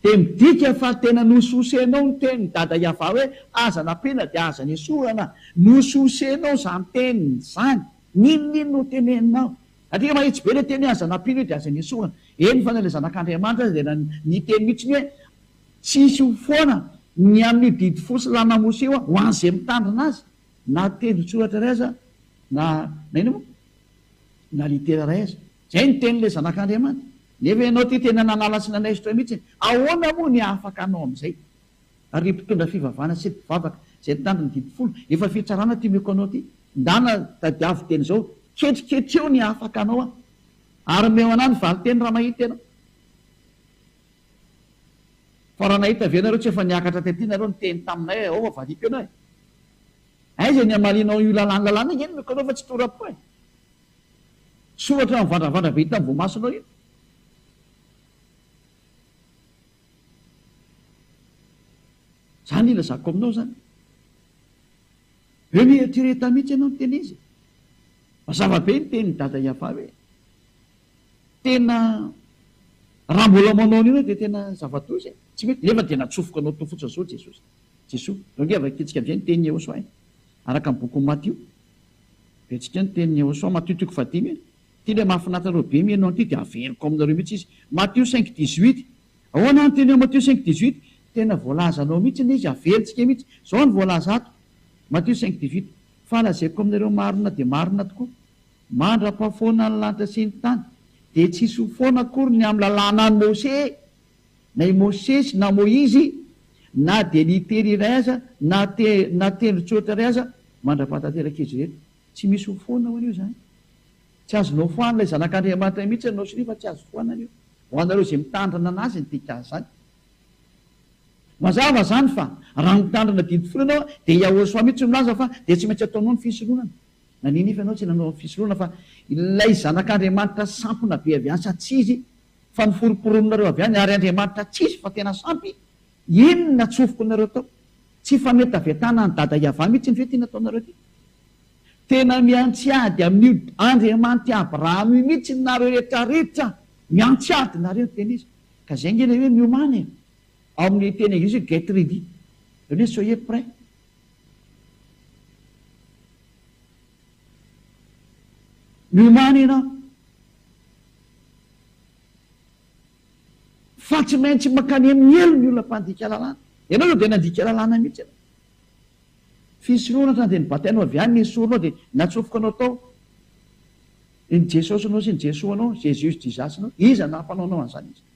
dia midika fa tena nosososenao ny tenin'i Dada Yavah hoe aza nampiana dia aza nesorana. Nosososenao izany teny izany. N'inon'inona ho teneninao. Satria mahitsy be ilay teny hoe aza nampiana io dia aza nesorana. Eny fa na ilay Zanak'Andriamanitra aza dia niteny mihitsy hoe tsy hisy ho foana ny amin'io didy fo sy lanamosy io ho an'izay mitandrina azy, na tendron-tsoratra iray aza na na inona moa. na litera iray aza. Izay ny tenin'ilay Zanak'Andriamanitra. Nefa ianao ity tena nanala sy nanaisotra mihitsy e! Ahoana moa ny hahafaka hanao amin'izay? Ary ry mpitondra fivavahana sy mpivavaka izay nitandro ny didy folo, efa fitsarana ity omeko anao ity. Ndana, tadiavo teny izao, ketriketreo ny hahafaka hanao aho. Ary omeo an'ahy ny valinteny raha mahita ianao. Fa raha nahita ve ianareo tsy efa niakatra tety nareo niteny taminay hoe, Aoka, vadiako ianao e! Aiza ny hamalianao io lalàna lalàna io? Eny no kanao fa tsy tora-po e! Soratra mivandravandra be hitan'ny voamasonao io. Zany ilazako aminao zany. Eo mieritreretà mihitsy ianao miteny izy. Mazava be ny tenin'i Dada Iavà hoe tena raha mbola manao an'io ianao dia tena zava-doza e! Tsy mety, nefa dia natsofoka anao teo fotsiny izao Jesosy. Jesoa. Zao nge vakitsika amizay ny tenin'i Yehosoa e! Araka ny bokin'i Matio. Vetsika ny tenin'i Yehosoa, Matio toko fahadimy e! Ity ilay mahafinaritra reo be miheno an'ity dia averiko aminareo mihitsy izy. Matio cinq dix huit. Ahoana ny teny ao Matio cinq dix huit? Tena voalazanao mihitsy ilay izy, averintsika mihitsy. Zao no voalaza ato, Matio cinq dix huit, Fa lazaiko aminareo marina dia marina tokoa, mandra-pahafoana ny lanitra sy ny tany dia tsy hisy ho foana akory ny amin'ny lalànan'i Mosè, Na i Mosesy na Moizy, na dia litera iray aza, na na tendron-tsoratra iray aza, mandrapaha tanteraka izy ireto. Tsy misy ho foana hono io izany. Tsy azonao foana ilay Zanak'Andriamanitra mihitsy ianao sy nefa tsy azo foanana io, ho anareo izay mitandrina anazy ny dikan'ny izany. Mazava izany fa raha mitandrina didy folo ianao dia Yahoshua mihitsy no milaza fa dia tsy maintsy ataonao ny fisoronana. Na nino ifa ianao tsy nanao ny fisoronana fa ilay Zanak'Andriamanitra sampona be avy any sa tsia izy Fa noforomporononareo avy any ary Andriamanitra tsisy fa tena sampy, inn natsofoky nareo tao? Tsy fanetavetana an'i Dada Yavah mihitsy iny ve ity nataonareo ity? Tena miantsy ady amin'io Andriamanitr'i Abraham io mihitsy nareo rehetra rehetra, miantsy ady nareo ny teny izy, ka zay nge ilay hoe miomana e! Ao amin'ny teny anglisy hoe get ready, zany hoe soyez prêt. Milomano ianao fa tsy maintsy mankany amin'ny helo ny olona mpandika lalàna. Ianao izao dia nandika lalàna mihitsy ianao. Fisorohana hatrany dia ny batainao avy any no esorinao dia natsofoka anao tao. Ny Jesosy nao sy ny Jesoa nao, Jesus Jesus nao, iza naha mpanao anao an'izany izany?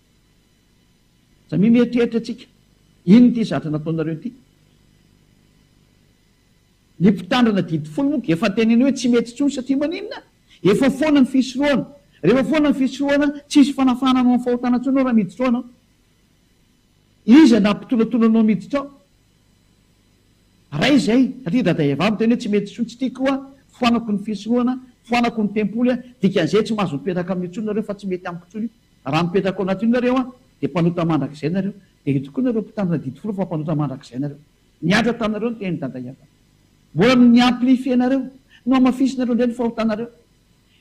Samia mieritreritra tsika, inona ity zatra nataonareo ity? Ny mpitandrina didy folo moa efa teneno hoe tsy mety intsony satria maninona? Efa foana ny fisorohana, rehefa foana ny fisorohana tsisy fanafahana anao amin'ny fahotana intsony ao raha miditra ao anao. Iza no nampitonatona anao miditra ao? Ray izay, satria dada Yavavy tena hoe tsy mety intsony, tsy tiako aho, foanako ny fisorohana, foanako ny tempoly aho, dikan'izay tsy mahazo mipetraka aminy intsony nareo fa tsy mety amiko intsony io. Raha mipetraka ao anatin'io nareo an, dia mpanota mandrakizay nareo, dia eto koa nareo mpitandrina didy folo fa mpanota mandrakizay nareo. Nihatra taminareo ny tenin'i Dada Iavana. Mbola no ni-amplifier nareo, nohamafisinareo indray ny fahotanareo.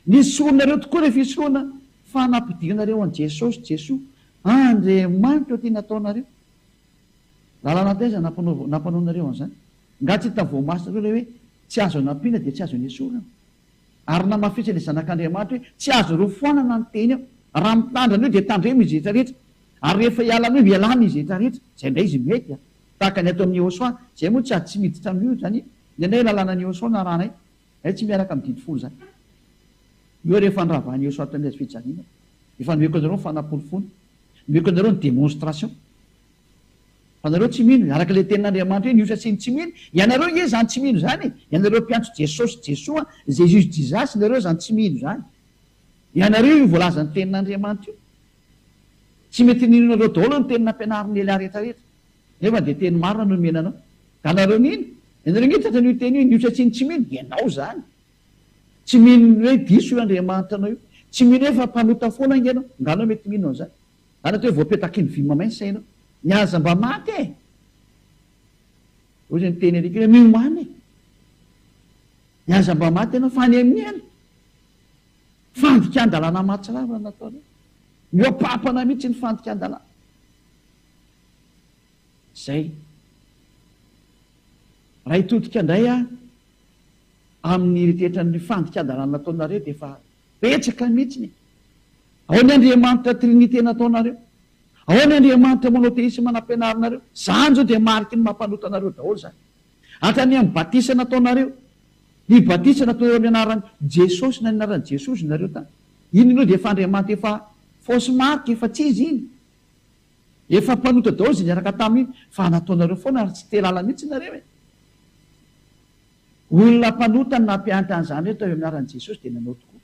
Nisoronareo tokoa ilay fisoronana fa nampidirinareo an'i Jesosy, Jesoa, Andriamanitra eo ty nataonareo. Lalana taiza nampanaovo, nampanaonareo an'izany? Nga tsy hitan'ny voamasinareo ilay hoe tsy azo anampiana dia tsy azo anesorana? Ary namafisany ny Zanak'Andriamanitra hoe, Tsy azonareo foanana ny teny aho. Raha mitandrina an'io dia tandremo izy rehetra rehetra. Ary rehefa hiala an'io, ialana izy rehetra rehetra. Izay indray izy mety a! Tahaka ny atao amin'i Yehosua. Izahay moa tsy ady tsy miditra amin'io izany e! Ny anay lalànan'i Yehosua no arahanay. Izahay tsy miaraka amin'ny didy folo izany. Io ary efa noravahan'i Yehosua tamin'ny hazo fijaliana. Efa nomeko anareo ny fanaporofoana. Nomeko anareo ny démonstration. Anareo tsy mino, araka ilay tenin'Andriamanitra hoe ny osa sy ny tsy mino, ianareo nge izany tsy mino izany e! ianareo mpiantso Jesosy Jesoa, Jesus Jesus, ianareo izany tsy mino izany. Ianareo io voalazan'ny tenin'Andriamanitra io. Tsy mety ninonareo daholo ny teny nampianarin'i Elia rehetra rehetra. Nefa dia teny marina no nomena anao. Ka anareo nino? Ianareo nge tratra an'io teny io, ny osa sy ny tsy mino, ianao izany. Tsy mino hoe diso io Andriamanitra anao io. Tsy mino hoe fa mpanota foana nge anao. Nga anao mety mino an'izany. Zany atao hoe voapetaky ny vy mamainsa ianao. Ny aza mba maty e! Ohatry ny teny alika hoe miomana e! Ny aza mba maty ianao fa any amin'ny hena. Fandikan-dalàna mahatsiravina nataonao. Mihoa-pampana mihitsy ny fandikan-dalàna. Zay. Raha hitodika indray aho amin'ny eritreritran'ny fandikan-dalàna nataonareo dia efa Betsaka mihitsiny e! Ao ny Andriamanitra Trinite nataonareo, ao ny Andriamanitra Monotheisme nampianarinareo, zany zao dia mariky ny maha mpanota anareo daholo zany. Hatrany amin'ny batisa nataonareo, ny batisa nataonareo amin'ny anaran'i Jesosy na ny anaran'i Jesozy nareo tany. Iny aloha dia efa Andriamanitra efa fausse marque, efa tsy izy iny. Efa mpanota daholo izay niaraka taminy iny, fa nataonareo foana ary tsy te lala mihitsy nareo e! Olona mpanota no nampianatra an'izany hoe atao eo amin'ny anaran'i Jesosy dia nanao tokoa.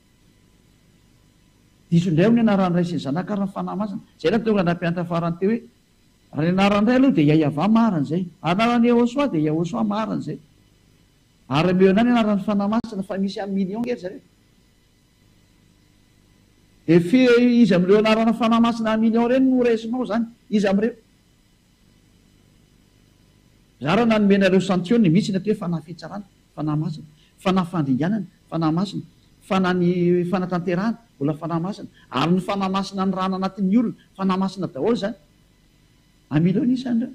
Diso indray hono ny anaran'ny Ray sy ny Zanaka ary ny Fanahy Masina. Izay no nahatonga ny nampianatra farany teo hoe, Raha ny anaran'ny Ray aloha dia Iahiavà, marina izay. Anaran'i Iehosoa dia Iahosoa, marina izay. Ary ameo ihany ny anaran'ny Fanahy Masina, fa misy amin'ny million nge ry zareo. Dia firy izy amin'ireo anarana Fanahy Masina amin'ny million ireny no ho raisinao izany? Iza amin'ireo? Raharaha nanome anareo santioniny mihitsy ny atao hoe fanahy fitsarana, fanahy masina, fanahy fandringanana, fanahy masina, fanahy ny fanatanterahana, mbola fanahy masina, ary ny fanahy masina anirahana anatin'ny olona, fanahy masina daholo izany. Amilao ny isany ireo.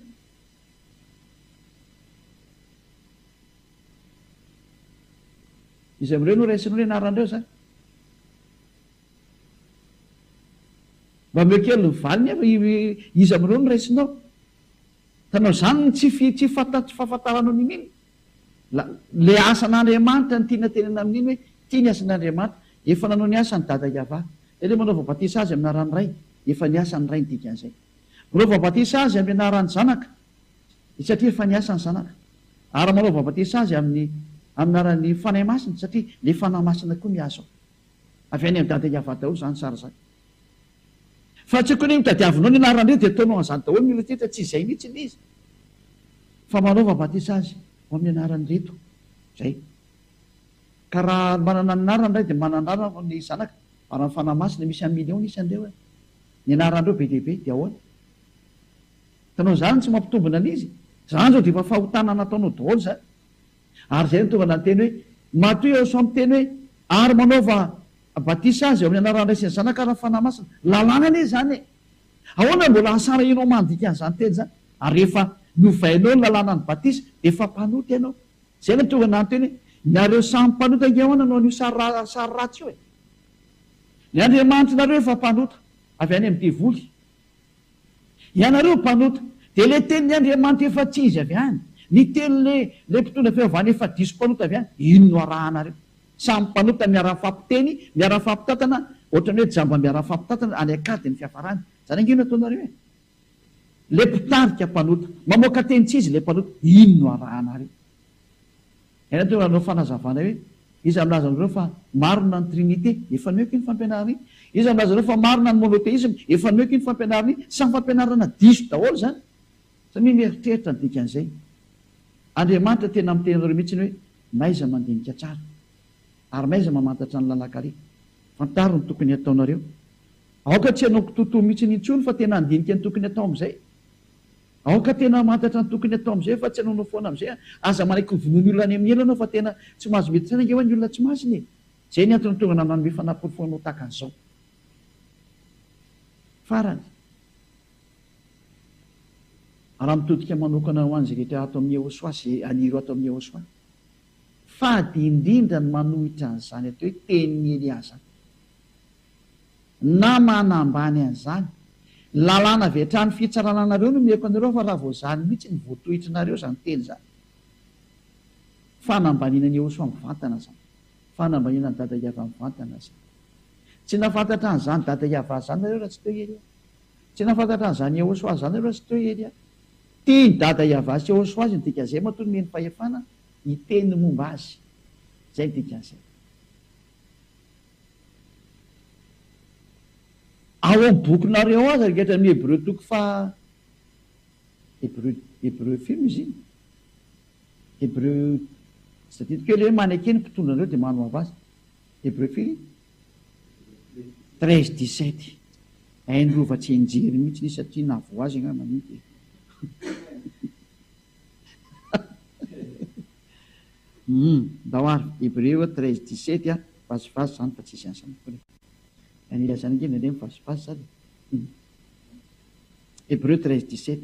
Iza amin'ireo no raisinao ny anaran'ireo izany? Mba omeo kely ny valiny ary iza amin'ireo no raisinao? Hitanao, izany no tsy tsy fahafantaranao ny mino. Ilay asan'Andriamanitra no tiana tenenina amin'ny mino hoe ity ny asan'Andriamanitra. Efa nanao ny asany Dada Iavah. Dia ilay manaova batisa azy amin'ny anaran'ny Ray, efa ny asan'ny Ray ny dikan'izay. Manaova batisa azy amin'ny anaran'ny Zanaka, satria efa ny asan'ny Zanaka. Ary manaova batisa azy amin'ny amin'ny anaran'ny Fanahy Masina, satria ilay Fanahy Masina koa mihazo ao. Avy any Andada Iavah daholo zany sary zany. Fa tsy kony nitadiavinao ny anarany reo dia ataonao anzany daholo ny retrretra tsy izay mitsy ilay izy fa manaova batisa azy ho amin'ny anarany reto zay ka raha manana ny anarany ray dia manana anarany ny zanaka ary amin'ny fanahy masina misy un million ny isany reo eh ny anarany reo be dia be dia ahoana tanao zany tsy mampitombina an'izy zany zao dia efa fahotana nataonao daholo zany Ary izay no tonga nanteny hoe, Matoa eo sao miteny hoe, Ary manaova batisa aza eo amin'ny anaran'ny Ray sy ny Zanaka ary ny Fanahy Masina. Lalàna anie izany e! Ahoana no mbola asarahinao mandika an'izany teny izany? Ary rehefa novainao ny lalàna ny batisa, dia efa mpanota ianao. Izay no tonga nanteny hoe, Nareo samy mpanota ange ahoana no an'io sary sary ratsy io e! Ny Andriamanitr'nareo efa mpanota, avy any amin'ny devoly. Ianareo mpanota, dia le tenin'i Andriamanitra efa tsy izy avy any, ny teny le le mpitondra fiaovana efa diso mpanota avy any, iny no arahanareo. Samy mpanota miara-mifampiteny, miara-mifampitantana, ohatrany hoe jamba miara-mifampitantana any an-kady ny fiafarany. Zany ange no ataonareo e! Le mpitarika mpanota, mamoaka teny tsy izy le mpanota, iny no arahanareo. Ianao dia nanao fanazavana hoe, Iza milaza anareo fa marina ny Trinite? Efa nihoaka iny fampianarana iny. Iza milaza anareo fa marina ny monotheisme? Efa nihoaka iny fampianarana iny. Samy fampianarana diso daholo izany. Samia mieritreritra ny dikan'izay. Andriamanitra tena miteny anareo mihitsy hoe, N'aiza mandinika tsara? Ary n'aiza mamantatra ny lalan-kare? Fantaro ny tokony hataonareo. Aoka tsy hanao kitoatoa mihitsy intsony fa tena handinika ny tokony hatao amin'izay. Aoka tena hamantatra ny tokony hatao amin'izay fa tsy hanaonao foana amin'izay an! Aza manaiky ho vonoin'ny olona any amin'ny ela ianao fa tena tsy mahazo mety saina ange ho'a ny olona tsy masina e! Izay ny antony tonga nananome fanaporofoanao tahaka an'izao. Farany, raha mitodika manokana ho an'izay rehetra ato amin'i Yehoswa sy haniry ato amin'i Yehoswa, fady indrindra ny manohitra an'izany atao hoe tenin'i Eliaza. Na manambany an'izany. Lalàna avy hatrany fitsarana anareo no omeko anareo fa raha vao zany mihitsy no voatohitrinareo izany teny izany. Fanambaniana an'i Ehosoa mivantana izany. Fanambaniana an'i Dada Iavah mivantana izany. Tsy nahafantatra an'izany Dada Iavah izany nareo raha tsy teo Elia. Tsy nahafantatra an'izany Ehosoa izany nareo raha tsy teo Elia. Tian'i Dada Iavah sy Ehosoa azy ny dikan'izay matoa nomeny fahefana hiteny ny momba azy. Izay ny dikan'izay. Ao amin'ny bokinareo aza rehetra amin'ny Hebreo toko faha Hebreo Hebreo firy izy iny? Hebreo tsy tadidiko ela hoe maneke ny mpitondra anareo dia manohava azy. Hebreo firy? Treize dix sept. Hainy rova tsy enjery mihitsy izy satria na voa azy angamba mety e. Humm ndao ary Hebreo treize dix sept a vazivazy zany fa tsisy asa mikory e! Raha ny ilazana ange nge ny vazivazy zany e! Humm Hebreo treize dix sept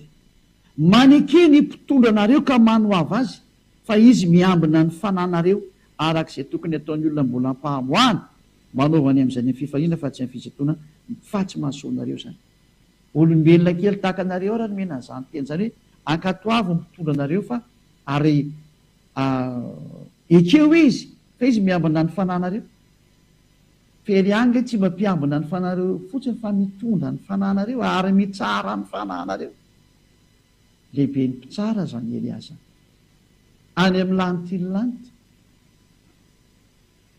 Maneke ny mpitondra anareo ka manohava azy fa izy miambina ny fananareo araka izay tokony ataon'ny olona mbola ampahamoahana, manaova ny amin'izay ny amin'ny fifaliana fa tsy amin'ny fisintonana fa tsy mahasoa anareo zany. Olombelona kely tahaka anareo ary nomena an'izany teny izany hoe ankatoavy ny mpitondra anareo fa ary ekeo izy fa izy miambina ny fanahinareo fery ihany nge tsy mba mpiambina ny fanahinareo fotsiny fa mitondra ny fanahinareo ary mitsara ny fanahinareo lehiben'ny mpitsara zany Elias zany any amin'ny lantilanty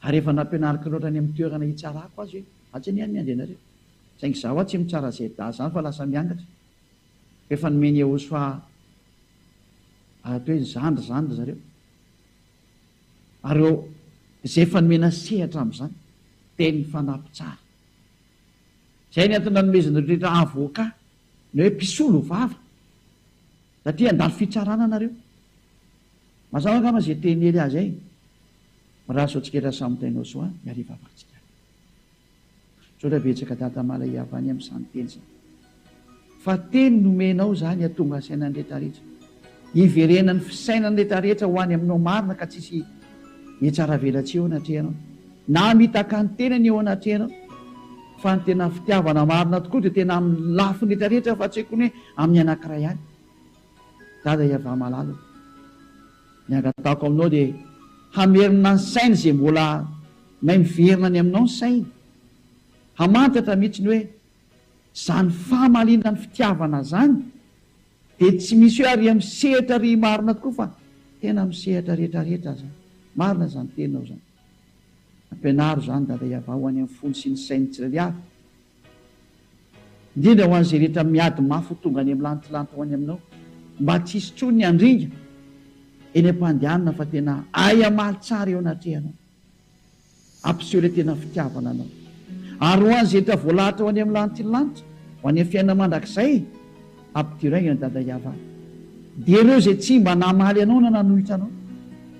Ary efa nampianariko loatra any amin'ny toerana hitsarako azy hoe atsy anie ny andianareo. Saingy izaho hoa tsy mitsara izay dahy izany fa lasa miangatra. Fa efa nomen'i Iehosofà atao hoe zandry izany ry zareo. Ary izay efa nomena sehatra amin'izany dia ny fanahy mpitsara. Izay ny antony nanomezan'ireo rehetra avoka. Ny hoe mpisolo vava satria handalo fitsarana nareo. Mazava angamba izay teny Hery azy ay Mirary soatsiketra samy tainao soa ny hariva avartsika any. Misaotra betsaka Dada Mala Iavany amin'izany teny izany. Fa teny nomenao izany hatonga saina ny rehetra rehetra. Hiverenan'ny fisainan'ny retraretra ho any aminao marina ka tsisy hietsaravelatsihy eo anatrehanao na mitaka ny tenany eo anatrehanao fa ny tena fitiavana marina tokoa dia tena amin'ny lafiny retraretra fa tsy hoe kony hoe amin'ny anankiray ihany Dada Yavah malala o Ny angatahako aminao dia hamerina ny sainy izay mbola may miverina any aminao ny sainy hamantatra mihitsy ny hoe izany famaliana ny fitiavana izany Dia tsy misy hoe ary amin'ny sehatra ry marina tokoa fa tena amin'ny sehatra rehetra rehetra aza marina izany teninao izany. Ampianaro izany Dada Iavah ho any amin'ny fony sy ny sain'ny tsirairay avy, indrindra ho an'izay rehetra miady mafy ho tonga any amin'ny lantilanty ho any Aminao, mba tsy hisy intsony ny handringa eny am-pandehanana fa tena hahay hamaly tsara eo anatrehanao. Ampiseho ilay tena fitiavana anao. Ary ho an'ny zetra voalahatra ho any amin'ny lanitry ny lanitra, ho any amin'ny fiainana mandrakizay, ampidiray ny an'i Dada Yava. Dia ireo izay tsy mba namaly anao na nanohitra anao,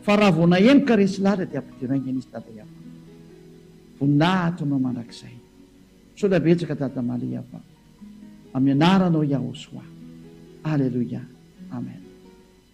fa raha vao nahemoka resy lahatra dia ampidiray ny an'izy Dada Yava. Voninahitra ho anao mandrakizay. Misaotra betsaka Dada Maly Yava. Amin'ny anaranao Yahosoa. Aleloia. Amen.